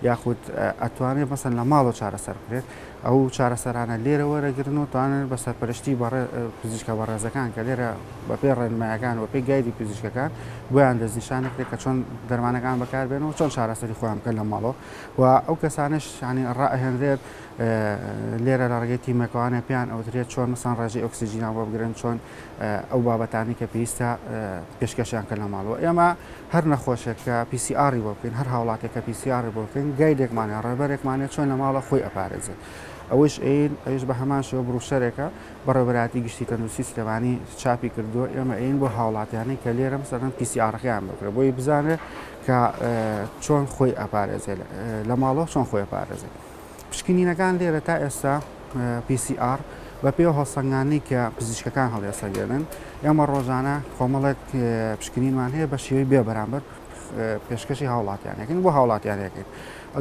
یاخود ئەتوانێت مەسەن لە ماڵەوە چارەسەر بکرێت ئەو چارەسەرانە لێرە وەرەگرن و توانن بە سەرپەرشتی بەڕێ پزیشکە بەڕێزەکان کە لێرە بەپێ ڕێنمایەکان و پێی گایدی پزیشکەکان بۆیان دەستنیشانەکرێت کە چۆن دەرمانەکان بەکاربێن و چۆن چارەسەری خۆیان بکەن لە ماڵەوە و ئەو کەسانەش یانی ڕائەهێنرێت لێرە لە ڕێگەی تیمەکەوانە پێیان ئەوترێت چۆن مەسان ڕێژەی ئۆکسسیجینان بۆ بگرن چۆن ئەو بابەتانی کە پێویستە پێشکەشیان کە لە ماڵەوە ئێمە هەر نەخۆشێک کە پیسیئاری بۆ بکەین هەر هاوڵاتێک کە پیسیاری بۆ بکەین گایدێکمانە ڕێبەرێکمانە چۆن لە ماڵە خۆی ئەپارێزێت ئەوش ئەین ئەوش بە هەمان شێوە بڕوشەرێکە بەڕێبەراتی گشتی تەندروستی سلێمانی چاپی کردووە ئێمە ئەین بۆ هاوڵاتیانی کە لێرەم سەرەن پیسیارەکەیان بکرە بۆی بزانێت کە چۆن خۆی ئەپارێزێت لە ماڵەوە چۆن خۆی ئەپارێزێت پشکنینەکان لێرە تا ئێستا PCR بە پێ هەڵسەنگانی کە پزیشکەکان هەڵێسەگەێنن ئێمە ڕۆژانە کۆمەڵێک پشکنینمان هەیە بە شێوەی بێ بەرامبەر پێشکەشی هاوڵاتیانەکەن بۆ هاوڵاتیانەکەن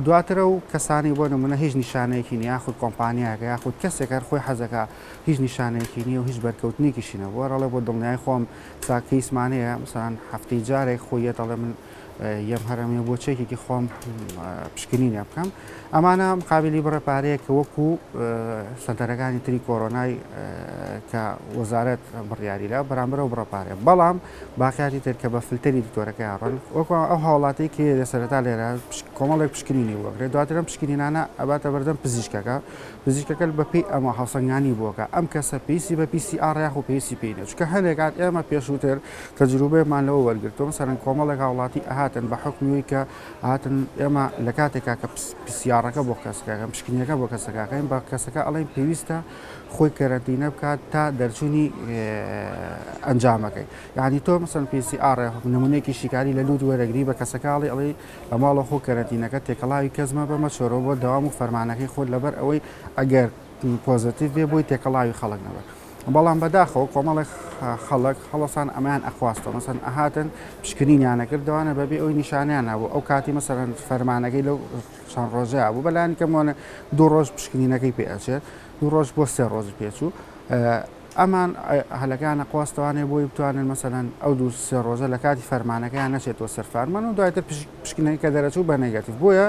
دواترە و کەسانی بۆ نمونە هیچ نیشانەیەکی نیە خود کۆمپانیاکە یاخود کەسێکەر خۆی حەزەکە هیچ نیشانەیەکی نیە و هیچ بەرکەوتنێکیشینە بۆ ڕڵێ بۆ دڵنیای خۆم تا کەیسمان هەیە مەسەلەن هەفتەی جارێک خۆی یە دەڵێ من یەم هەرەمێ بۆ چەکێکی خۆم پشکنینە بکەم ئەمانە مقابلی بڕە پارەیە کە وەکو سەنتەرەکانی تری کۆرۆنای کە وەزارەت بڕیاری لە بەرامبەر و بڕە پارێ بەڵام باقیاتی تر کە بە فلتەری دکتۆرەکە یاڕن وەکو ئەو هاوڵاتی کێ لە سەرتا لێرە کۆمەڵێک پشکنینی وەگرێت دواترم پشکنینانە ئەباتە بەردەم پزیشکەکە پزیشکەکە بە پێی ئەمە هەڵسەنگاندی بووە کە ئەم کەسە پێویستی بە PCR یاخود پێویستی پێی نییە، چونکە هەندێک کات ئێمە پێشووتر تەجروبەیەکمان لەوە وەرگرتووە مەسەلەن کۆمەڵێک هاوڵاتی ئەهاتن بە حوکمی ئەوەی کە هاتن ئێمە لە کاتێکا کە پیسیاڕەکە بۆ کەسەکە دەکەین پشکنینەکە بۆ کەسەکە دەکەین بە کەسەکە ئەڵێن پێویستە خۆی کەرەنتینە بکات تا دەرچوونی ئەنجامەکەی یانی تۆ مەسەلەن PCR یاخود نموونەیەکی شیکاری لە لووت وەرەگری بە کەسەکە ئەڵێ ئەڵێی لە ماڵە خۆ کەرەنتینەکە تێکەڵاوی کەس مەبە مەچۆرەوە بۆ دەوام و فەرمانەکەی خۆت لەبەر ئەوەی ئەگەر پۆزەتیف بێ بۆی تێکەڵاوی خەڵک نەبە بەڵام بەداخەوە کۆمەڵێک خەڵک هەڵسان ئەمان ئەخواستەوە مەسەن ئەهاتن پشکنینیانە کردوانە بەبێ ئەوی نیشانیان نبوو ئەو کاتی مەسەرەن فەرمانەکەی لەو چەند ڕۆژە بوو بەلانی کەمۆنە دوو ڕۆژ پشکنینەکەی پێچێت دوو ڕۆژ بۆ سێ ڕۆژ پێچوو ئەمان هەلەکان ئەقواستەوانێ بۆی بتوانێت مەسەلەن ئەو دوو سێ ڕۆژە لە کاتی فەرمانەکەیان نەچێتەوە سەر فارمان و دوایتر پشکنەکە کە دەرەچوو بە نێگەتیڤ بۆیە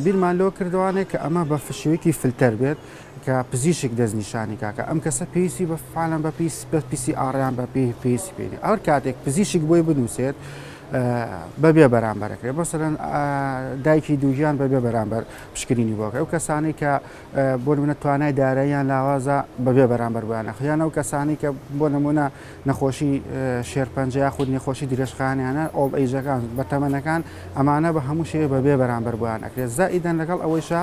بیرمان لۆ کردوانێ کە ئەمە بە فشوێکی فلتەر بێت کە پزیشک دەستنیشانی کاکە ئەم کەسە پێویستی بە فعالان بە پیس بە پیسی ئاڕیان بە پێی پێویستی پێێ ئەو کاتێک پزیشک بۆی بنووسێت بەبێ بەرامبەرەکرێت بەسەرەن دایکی دووگیان بەبێ بەرامبەر پشکرینی بۆکە ئەو کەسانی کە بۆ نموونە توانای داراییان لاوازە بەبێ بەرامبەر بۆیان ئەخ یان ئەو کەسانی کە بۆ نمونە نەخۆشی شێرپەنجە یاخود نەخۆشی درێژخانیانە ئەو ئەیجەکان بە تەمەنەکان ئەمانە بە هەموو شێوێ بەبێ بەرامبەر بۆیان ئەکرێت زائیدەن لەگەڵ ئەوەیشە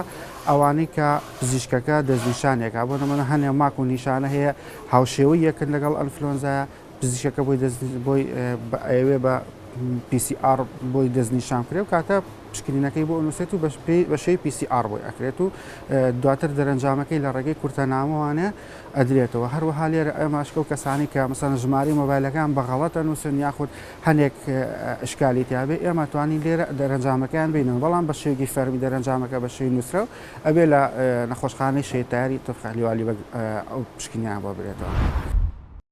ئەوانەی کە پزیشکەکە دەستنیشانێکا بۆ نمونە هەنێ ماک و نیشانە هەیە هاوشێوەی یەکن لەگەڵ ئەلفلۆنزایە پزیشەکە بۆی دەست بۆی ئەیەوێ بە PCR بۆی دەستنیشان بکرێ و کاتە پشکنینەکەی بۆ ئەنووسێت و بە شێوی PCR بۆی ئەکرێت و دواتر دەرەنجامەکەی لە ڕێگەی کورتە نامەوانە ئەدرێتەوە هەروەها لێرە ئەماشکە و کەسانی کە مەسەن ژماری مۆبایلەکان بە غەڵەتە نووسن یاخود هەندێک ئشکالی تیاابێ ئێمە توانی لێرە دەرەنجامەکەیان بینەوە بەڵام بە شێوی فەرمی دەرەنجامەکە بە شێوی نووسرە و ئەبێ لە نەخۆشخانەی شێتاری تورخەلیوالی ئەو پشکنیان بۆ برێتەوە.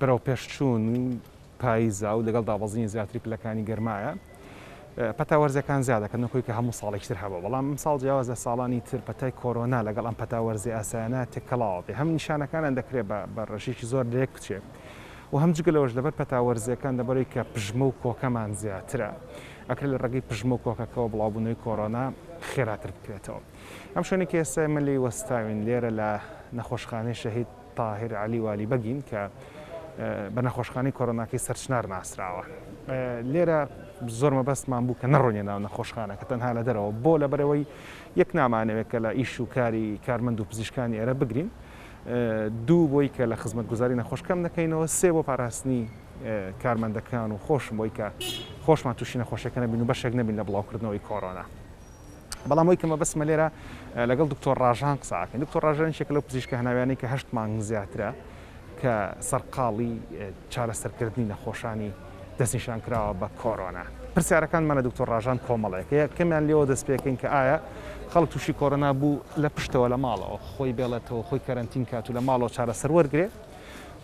بەرەوپێشچوون و پاییزە و لەگەڵ دابەزینی زیاتری پلەکانی گەرمایە پەتا وەرزەکان زیاد دەکەن نەکۆی کە هەموو ساڵێکی تر هەبوو بەڵام ئەمساڵ جیاواز لە ساڵانی تر پەتای کۆرۆنا لەگەڵ ئەم پەتا وەرزی ئاسایانە تێکەڵاوە بێ هەم نیشانەکانیان دەکرێت بە ڕێژێکی زۆر لەیەک بچێت و هەم جگە لەوەش لەبەر پەتا وەرزیەکان دەبەرەوەی کە پژمە و کۆکەمان زیاترە ئەکرێت لە ڕێگەی پژمە و کۆکەکەەوە بڵاوبوونەوەی کۆرۆنا خێراتر بکرێتەوە ئەم شوێنێکی ئێستا ئێمە لێی وەستاوین لێرە لە نەخۆشخانەی شەهید تاهیر عەلی والی بەگین کە بە نەخۆشخانەی کۆرۆناکەی سەرچنار ناسراوە لێرە زۆر مەبەستمان بوو کە نەڕۆنیە ناو نەخۆشخانە کە تەنها لە دەرەوە بۆ لە بەرەوەی یەک نامانەوێت کە لە ئیش و کاری کارمەند و پزیشکانی ئێرە بگرین دوو بۆی کە لە خزمەت گوزاری نەخۆش کەم نەکەینەوە سێ بۆ پاراستنی کارمەندەکان و خۆشم بۆی کە خۆشمان تووشی نەخۆشەکە نەبین و بەشێک نەبین لە بڵاوکردنەوەی کۆرۆنا. بەڵام ئەوەی کە مەبەستمە لێرە لەگەڵ دکتۆر ڕاژان قسە ئەکەین دکتۆر ڕاژان یەکێکە لەو پزیشکە هەناویانەی کە هەشت مانگ زیاترە کە سەرقاڵی چارەسەرکردنی نەخۆشانی دەستنیشان کراوە بە کۆرۆنا پرسیارەکانمان لە دکتۆر ڕاژان کۆمەڵەیەکە یەکەمیان لێەوە دەست پێکەین کە ئایا خەڵک تووشی کۆرۆنا بوو لە پشتەوە لە ماڵەوە خۆی بێڵێتەوە خۆی کەرەنتین کات و لە ماڵەوە چارەسەر وەرگێ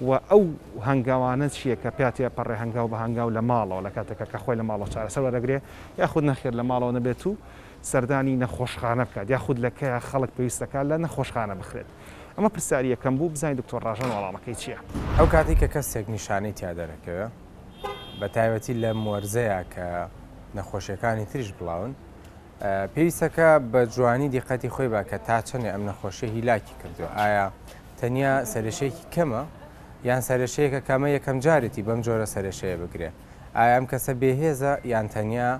و ئەو هەنگاوانە چییە کە پیا تێپەڕێ هەنگاو بە هەنگاو لە ماڵەوە لە کاتێکا کە خۆی لە ماڵەوە چارەسەر وەردەگرێ یاخود نەخێر لە ماڵەوە نەبێت و سەردانی نەخۆشخانە بکات یاخود لە کەیا خەڵک پێویستە کە لە نەخۆشخانە بخرێت؟ ئەمە پرسیاری یەکەم بوو بزانین دکتۆر ڕاژان وەڵامەکەی چییە. ئەو کاتەی کە کەسێک نیشانەی تیا دەرەکەوێ بە تایبەتی لەم وەرزەیا کە نەخۆشیەکانی تریش بڵاون پێویستە کە بە جوانی دیقەتی خۆی با کە تا چەنێ ئەم نەخۆشیە هیلاکی کردووە ئایا تەنیا سەرشێکی کەمە یان سەرشەیەکە کەمە یەکەم جارێتی بەم جۆرە سەرشەیە بگرێ ئایا ئەم کەسە بێهێزە یان تەنیا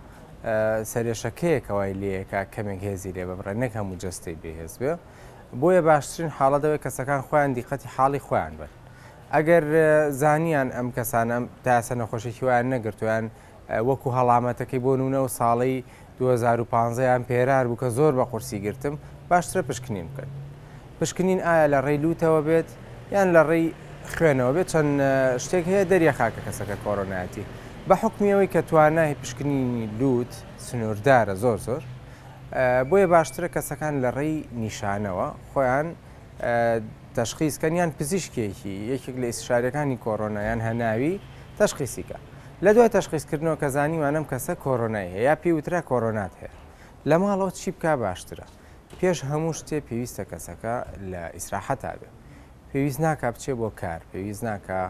سەرێشەکەیەکەوای لەیەکە کەمێک هێزی لێ ببڕێ نەک هەموو جەستەی بێهێز بێ بۆیە باشترین حاڵەتەوەی کەسەکان خۆیان دیقەتی حاڵی خۆیان بن ئەگەر زانیان ئەم کەسانە تاسە نەخۆشێکی وایان نەگرتویان وەکو هەڵامەتەکەی بۆ نونە و ساڵی دوو هەزار و پازدە یان پێرار بوو کە زۆر بە قورسی گرتم باشترە پشکنین بکەن پشکنین ئایا لە ڕێی لوتەوە بێت یان لە ڕێی خوێنەوە بێت چەند شتێک هەیە دەریەخا کە کەسەکە کۆرۆنایەتی بە حکمیەوەی کە توانای پشکنینی لوت سنووردارە زۆر زۆر بۆیە باشترە کەسەکان لە ڕێی نیشانەوە خۆیان تشخیزکەن یان پزیشکێکی یەکێک لە ئیسشارەکانی کۆرۆنایان هەناوی تشخیسیکە لە دوای تەشخیس کردنەوە کە زانیوان ئەم کەسە کۆرۆنای هەیە یا پێی وترا کۆرۆنات هەیە لە ماڵەوە چی بکا باشترە؟ پێش هەموو شتێ پێویستە کەسەکە لە ئیسراحەتا بێ پێویست ناکا بچێ بۆ کار پێویست ناکا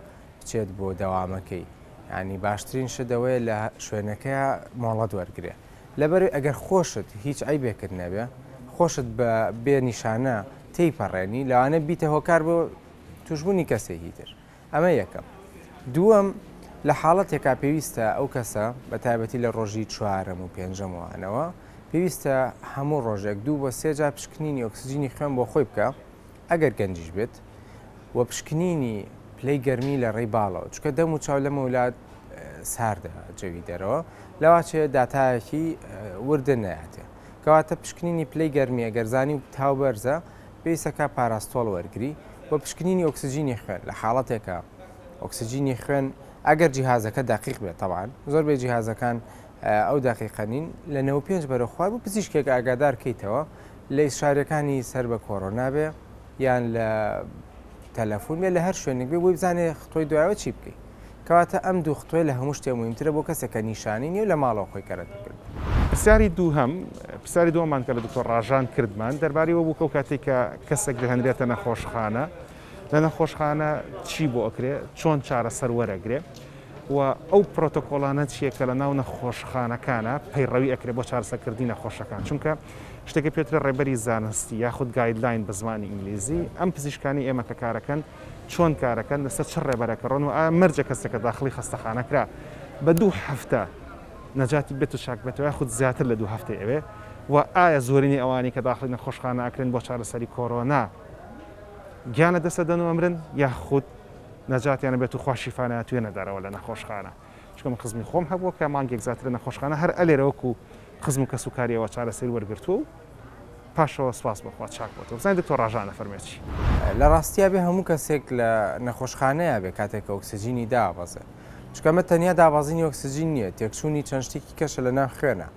بچێت بۆ دەوامەکەی یانی باشترین شت ئەوەیە لە شوێنەکەیا مۆڵەت وەرگرێ لەبەر ئەگەر خۆشت هیچ عەیبێکت نەبێ خۆشت بە بێ نیشانە تێیپەڕێنی لەوانە بیتە هۆکار بۆ توشبوونی کەسێکی تر ئەمە یەکەم. دووەم، لە حاڵەتێکا پێویستە ئەو کەسە، بە تایبەتی لە ڕۆژی چوارەم و پێنجەم و ئەنەوە، پێویستە هەموو ڕۆژێک دوو بۆ سێ جار پشکنینی ئۆکسجینی خوێن بۆ خۆی بکا، ئەگەر گەنجیش بێت، و پشکنینی پلەی گەرمی لە ڕێی باڵەوە، چونکە دەم و چاو لەمەولا ساردە جەوی دەرەوە، لەواچێ داتایەکی وردە نەیاتێ. کەواتە پشکنینی پلەی گەرمی ئەگەر زانی و تاو بەرزە، پێویستە کە پاراستۆڵ وەرگری بۆ پشکنینی ئۆکسجینی خوێن لە حاڵەتێکە ئۆکسجینی خوێن ئەگەر جیهازەکە دەقیق بێت تەبعەن زۆر بێ جیهازەکان ئەو دەقیقە نین لە نەوە پێنج بەرە خوار بۆ پزیشکێک ئاگادار کەیتەوە لە ئیسشارەکانی سەر بە کۆرۆنا بێ یان لە تەلەفۆن بێ لە هەر شوێنێک بێ بۆی بزانێ خۆی دوایەوە چی بکەیت کەواتە ئەم دوو خطوەیە لە هەموو شتێ موهیمترە بۆ کەسێک کە نیشانەی نیە و لە ماڵەوە خۆی کەرەتی کردووە. پرسیاری دووهەم، پرسیاری دووەمان کە لە دکتۆر ڕاژان کردمان دەربارەی ئەوە بوو کە ئەو کاتەی کە کەسێک دەهێنرێتە نەخۆشخانە لە نەخۆشخانە چی بۆ ئەکرێ چۆن چارەسەر وەرەگرێ و ئەو پرۆتۆکۆڵانە چیە کە لە ناو نەخۆشخانەکانە پەیڕەوی ئەکرێ بۆ چارەسەکردنی نەخۆشەکان چونکە شتێکە پێترە ڕێبەری زانستی یاخود گایدلاین بە زمانی ئینگلیزی ئەم پزیشکانی ئێمە کە کارەکەن چۆن کارەکەن، لەسەر چ ڕێبەرەک ڕۆن و ئایا مەرجە کەسەکە داخڵی خەستەخانە کرا بە دوو هەفتە نەجاتی بێت و چاک بێتەوە یاخود زیاتر لە دوو هەفتەی ئەوێ و ئایا زۆرینەی ئەوانەی کە داخڵی نەخۆشخانە ئەکرێن بۆ چارەسەری کۆرۆنا گیان لە دەست ئەدەن و ئەمرن یاخود نەجاتیان ئەبێت و خوا شیفایان ئەتوێنێ دەرەوە لە نەخۆشخانە. چونکە من خزمی خۆم هەبووە کە مانگێک زیاتر لە نەخۆشخانە هەر ئەلێرە وەکو خزم و کەسوکاریەوە چارەسەری وەرگرتووە و پاشەوە سپاس بەخوا چاک بۆتەوە بزانین دکتۆر ڕاژان ئەفەرمێت چی. لە ڕاستیا بێ هەموو کەسێک لە نەخۆشخانەیە بێ کاتێک کە ئۆکسجینی دابەزێ چونکە ئەمە تەنیا دابازینی ئۆکسجین نییە تێکچوونی چەند شتێکی کەشە لە ناو خوێنا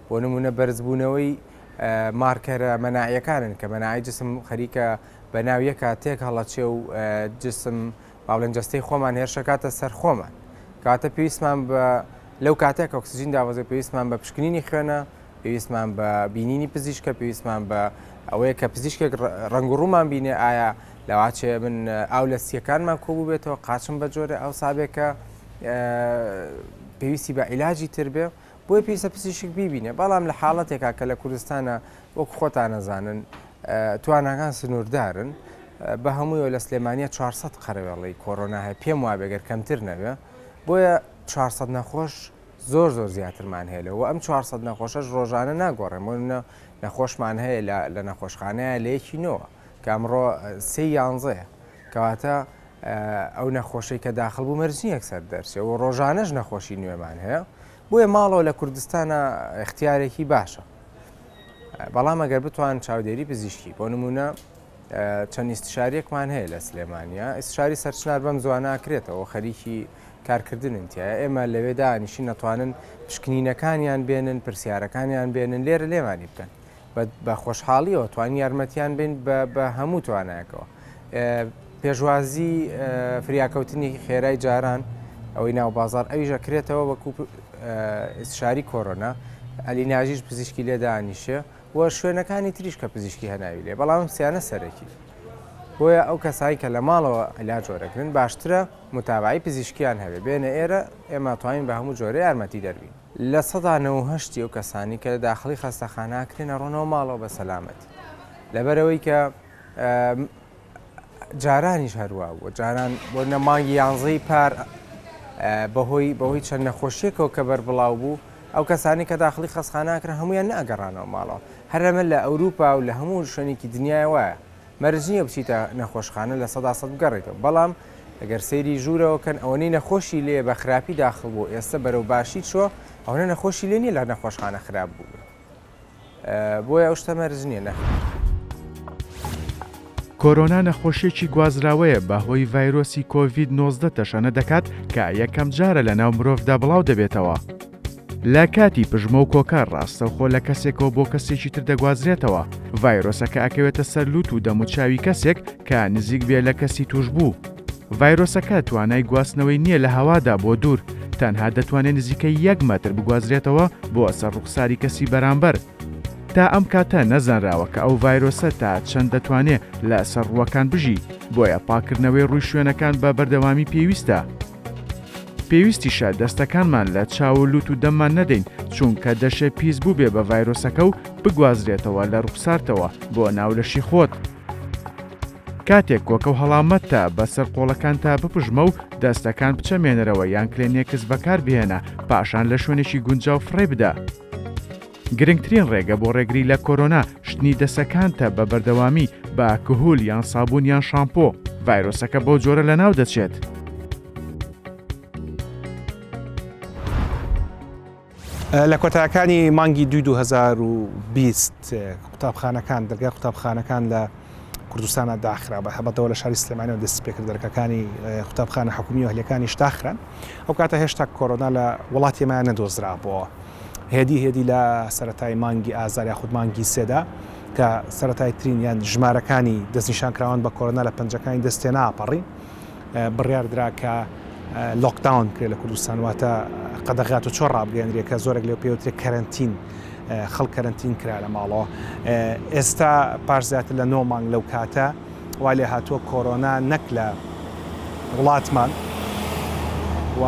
بۆ نموونە بەرزبوونەوەی مارکەرە مەناعیەکانن کە مەناعی جسم خەریکە بە ناو یەکە تێک هەڵەچێ و جسم با بڵێن جەستەی خۆمان هێرشەکاتە سەر خۆمان کەواتە پێویستمان بە لەو کاتێک ئۆکسسیجین داوەزێ پێویستمان بە پشکنینی خوێنە پێویستمان بە بینینی پزیشکە پێویستمان بە ئەوەیە کە پزیشکێک ڕنگ و ڕوومان بینێ ئایا لەواچێ من ئاو لە سیەکانمان کۆبوو بێتەوە قاچم بە جۆرە ئەو سابێکە پێویستی بە عیلاجی تر بێ بۆی پێویستە پزیشک بیبینێ بەڵام لە حاڵەتێکا کە لە کوردستانە وەکو خۆتان ئەزانن تواناکان سنووردارن، بە هەموویەوە لە سلێمانیە چوار سەد قەرەوێڵەی کۆرۆنا هەیە، پێم وابێ گەر کەمتر نەبێ، بۆیە چوار سەد نەخۆش زۆر زۆر زیاترمان هەیە لەوە، ئەم چوار سەد نەخۆشەش ڕۆژانە ناگۆڕێن، بۆ نمونە نەخۆشمان هەیە لە نەخۆشخانەیە لە یەکی نۆوە کە ئەمڕۆ سێی یانزەیە کەواتە ئەو نەخۆشەی کە داخڵ بوو مەرج نییە یەکسەر دەرچێ و ڕۆژانەش نەخۆشی نوێمان هەیە، بۆیە ماڵەوە لە کوردستانا ئیختیارێکی باشە بەڵام ئەگەر بتوان چاودێری پزیشکی بۆ نمونە چەند ئیستشارێکمان هەیە لە سلێمانیا ئیسشاری سەرچنار بەم زوانناکرێتەوە خەریکی کارکردنن تایە ئێمە لەوێدا نیشی نەتوانن پشکنینەکانیان بێنن پرسیارەکانیان بێنن لێرە لێمانی بکەن بە خۆشحاڵیەوە توانین یارمەتیان بین بە هەموو توانایەکەوە پێشوازی فریاکەوتنی خێرای جاران ئەوەی ناو بازار ئەویش ئەکرێتەوە وەکو شاری کۆرۆنا ئەلی ناژیش پزیشکی لێدانیشێ و شوێنەکانی تریش کە پزیشکی هەناوی لێ بەڵام سیانە سەرەکی بۆیە ئەو کەسایی کە لە ماڵەوە ئەلا جۆرەکردن باشترە متابعی پزیشکیان هەبێ بێنە ئێرە ئێمە توانین بە هەموو جۆرە یارمەتی دەربین لە سەدا نەوە و هەشتی ئەو کەسانەی کە لە داخڵی خەستەخانە ئەکرێن ئەڕۆنەوە ماڵەوە بە سەلامەتی لەبەرئەوەی کە جارانیش هەروا بووە جاران بۆ نە مانگی یانزەی پار بەهۆی بەهۆی چەند نەخۆشیەکەەوە کە بەر بڵاو بوو ئەو کەسانی کە داخلی خەسخاناکرا هەمویان ناگەڕانەوە ماڵەوە هەرەمە لە ئەوروپا و لە هەموو شوێنێکی دنیای وایە مەرج نییە بچیتە نەخۆشخانە لە سەدا سەد بگەڕێیتەوە بەڵام گەر سەیری ژوورەوە کەن ئەوەنەی نەخۆشی لێیە بە خراپی داخڵ بووە ئێستە بەرەو باشی چووە ئەوەنە نەخۆشی لێ نییە لە نەخۆشخانە خراپ بووبێ بۆیە ئەو شتە مەرج نییە نەخێر. کۆرۆنا نەخۆشیێکی گوازراوەیە بەهۆی ڤایرۆسی کۆڤید نۆزدە تەشەنە دەکات کە یەکەم جارە لە ناو مرۆڤدا بڵاو دەبێتەوە. لە کاتی پژمە و کۆکار ڕاستەوخۆ لە کەسێکەوە بۆ کەسێکی تر دەگوازرێتەوە، ڤایرۆسەکە ئەکەوێتە سەر لوت و دەم و چاوی کەسێک کە نزیک بێ لە کەسی توشبوو. ڤایرۆسەکە توانای گواستنەوەی نییە لە هەوادا بۆ دوور، تەنها دەتوانێ نزیکەی یەک مەتر بگوازرێتەوە بۆ سەر ڕوخساری کەسی بەرامبەر. تا ئەم کاتە نەزانراوە کە ئەو ڤایرۆسە تا چەند دەتوانێ لە سەر ڕووەکان بژی، بۆیە پاککردنەوەی ڕووی شوێنەکان بە بەردەوامی پێویستە. پێویستیشە دەستەکانمان لە چاو و لوت و دەممان نەدەین چونکە دەشێ پیس بووبێ بە ڤایرۆسەکە و بگوازرێتەوە لە ڕوخسارتەوە بۆ ناو لەشی خۆت. کاتێک کۆکە و هەڵامەتتە بەسەر قۆڵەکانتا بپژمە و دەستەکان بچەمێنەرەوە یان کلێنێکس بەکاربهێنە پاشان لە شوێنێکی گونجاو فڕێی بدە. گرنگترین ڕێگە بۆ ڕێگری لە کۆرۆنا شتنی دەسەکانتە بە بەردەوامی بە کهول یان سابون یان شامپۆ، ڤایرۆسەکە بەو جۆرە لەناو دەچێت. لە کۆتایەکانی مانگی دوی 2020 قوتابخانەکان دەرگای قوتابخانەکان لە کوردستانە داخرا بە هەبەتەوە لە شاری سلێمانەوە دەست پێکرد دەرکەکانی قوتابخانە حکومی و هەلەکانی شداخران ئەو کاتە هێشتا کۆرۆنا لە وڵاتیمایان نەدۆزرابەوە هێدی هێدی لە سەرەتای مانگی ئازار یاخود مانگی سێدا کە سەرەتای ترین یان ژمارەکانی دەستنیشانکراوان بە کۆرۆنا لە پەنجەکانی دەستێ ناپەڕی بڕیار درا کە لۆکداون کرێ لە کوردستان واتە قەدەغات و چۆ ڕابگەێنرێ کە زۆرێک لێ پێوترێ کەرنتین خەڵ کەرنتین کرا لە ماڵەوە ئێستا پاش زیاتر لە نۆ مانگ لەو کاتە وا لێ هاتووە کۆرۆنا نەک لە وڵاتمان و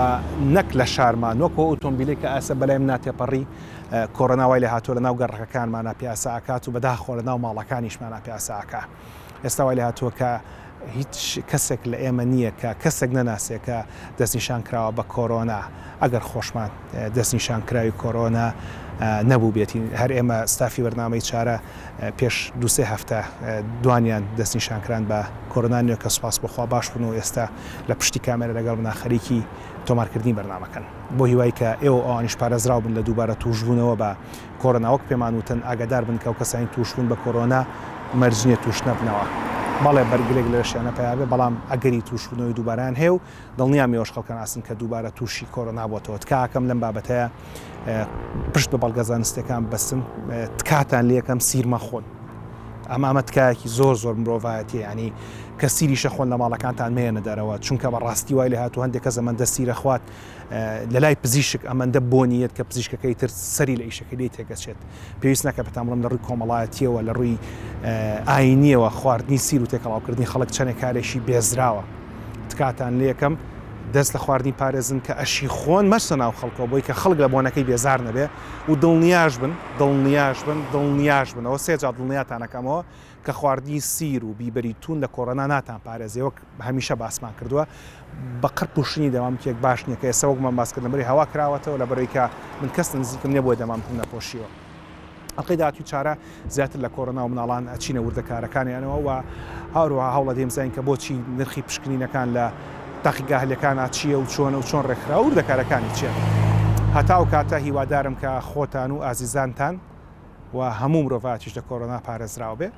نەک لە شارمان وەک ئەو ئۆتۆمبیلەی کە ئاسە بەلایم ناتێپەڕی کۆرۆنا وای لێ هاتووە لە ناو گەڕەکەکانمانە پیاسە ئاکات و بەداخۆ لە ناو ماڵەکانیشمانە پیاسە ئاکا ئێستا وای لێ هاتووە کە هیچ کەسێک لە ئێمە نییە کە کەسێک نەناسێت کە دەستنیشان کراوە بە کۆرۆنا ئەگەر خۆشمان دەستنیشان کراوی کۆرۆنا نەبوو بێتین هەر ئێمە ستافی بەرنامەی چارە پێش دوو سێ هەفتە دوانیان دەستنیشانکران بە کۆرۆنا نوێ کە سوپاس بۆ خوا باش بوون و ئێستا لە پشتی کامێرە لەگەڵ منا خەریکی تۆمارکردنی بەرنامەکەن بۆ هیوای کە ئێوە و ئەوانیش پارێزراو بن لە دووبارە تووشبوونەوە بە کۆرۆنا وەک پێمان وتن ئاگادار بن کە ئەو کەسانەی تووشبوون بە کۆرۆنا مەرج نییە تووش نەبنەوە بەڵێ بەرگرێک لە لەشیانە پەیا بێ بەڵام ئەگەری تووشبوونەوەی دووبارەیان هەیە و دڵنیام ئێوەش خەڵکان ئاستن کە دووبارە تووشی کۆرۆنا بۆتەوە تکاکەم لەم بابەتەیە پشت بە بەڵگە زانستیەکان ببەستن تکاتان لەکەم سیر مەخۆن ئەم ئەمە تکایەکی زۆر زۆر مرۆڤایەتی ینی کە سیریشە خۆن لە ماڵەکانتان مێنە دەرەوە چونکە بە ڕاستی وای لە هاتو هەندێک کە زەمەندە سیرە خوات لە لای پزیشک ئەمەندە بۆنیت کە پزیشکەکەی تر سەری لە ئیشەکە لی تێگەچێت پێویست ناکە بەتامڵم لە ڕووی کۆمەڵایەتیەوە لە ڕووی ئاینیەوە خواردنی سیر و تێکەڵاوکردنی خەڵک چەنێک کارێکی بێزراوە تکاتان لێکەم دەست لە خواردنی پارێزن کە ئەشی خۆن مەرسە ناو خەڵکەوە بۆی کە خەڵک لە بۆنەکەی بێزار نەبێ و دڵنیاش بن دڵنیاش بن دڵنیاش بنەوە سێجا دڵنیاتانەکەمەوە کە خواردنی سیر و بیبەری تون لە کۆرۆنا ناتان پارێزێ وەک هەمیشە باسمان کردووە بە قەر پوشتنی دەمامکێک باش نییە کە ئێستا وەکمان باس کردن بەری هەوا کراوەتەوە لە بەرەوەی کە من کەس نزیکم نیە بۆی دەمامکم نەپۆشیوە ئەڵقەی داهاتووی چارە زیاتر لە کۆرۆنا و مناڵان ئەچینە وردەکارەکانیانەوە و هەروەها هەوڵ ئەدەین بزانین کە بۆچی نرخی پشکنینەکان لە تاقیگاهلەکانا چییە و چۆنە و چۆن ڕێکخراوە و وردەکارەکانی چییە. هەتا ئەو کاتە هیوادارم کە خۆتان و ئازیزانتان و هەموو مرۆڤایەتیش لە کۆرۆنا پارێزراو بێ.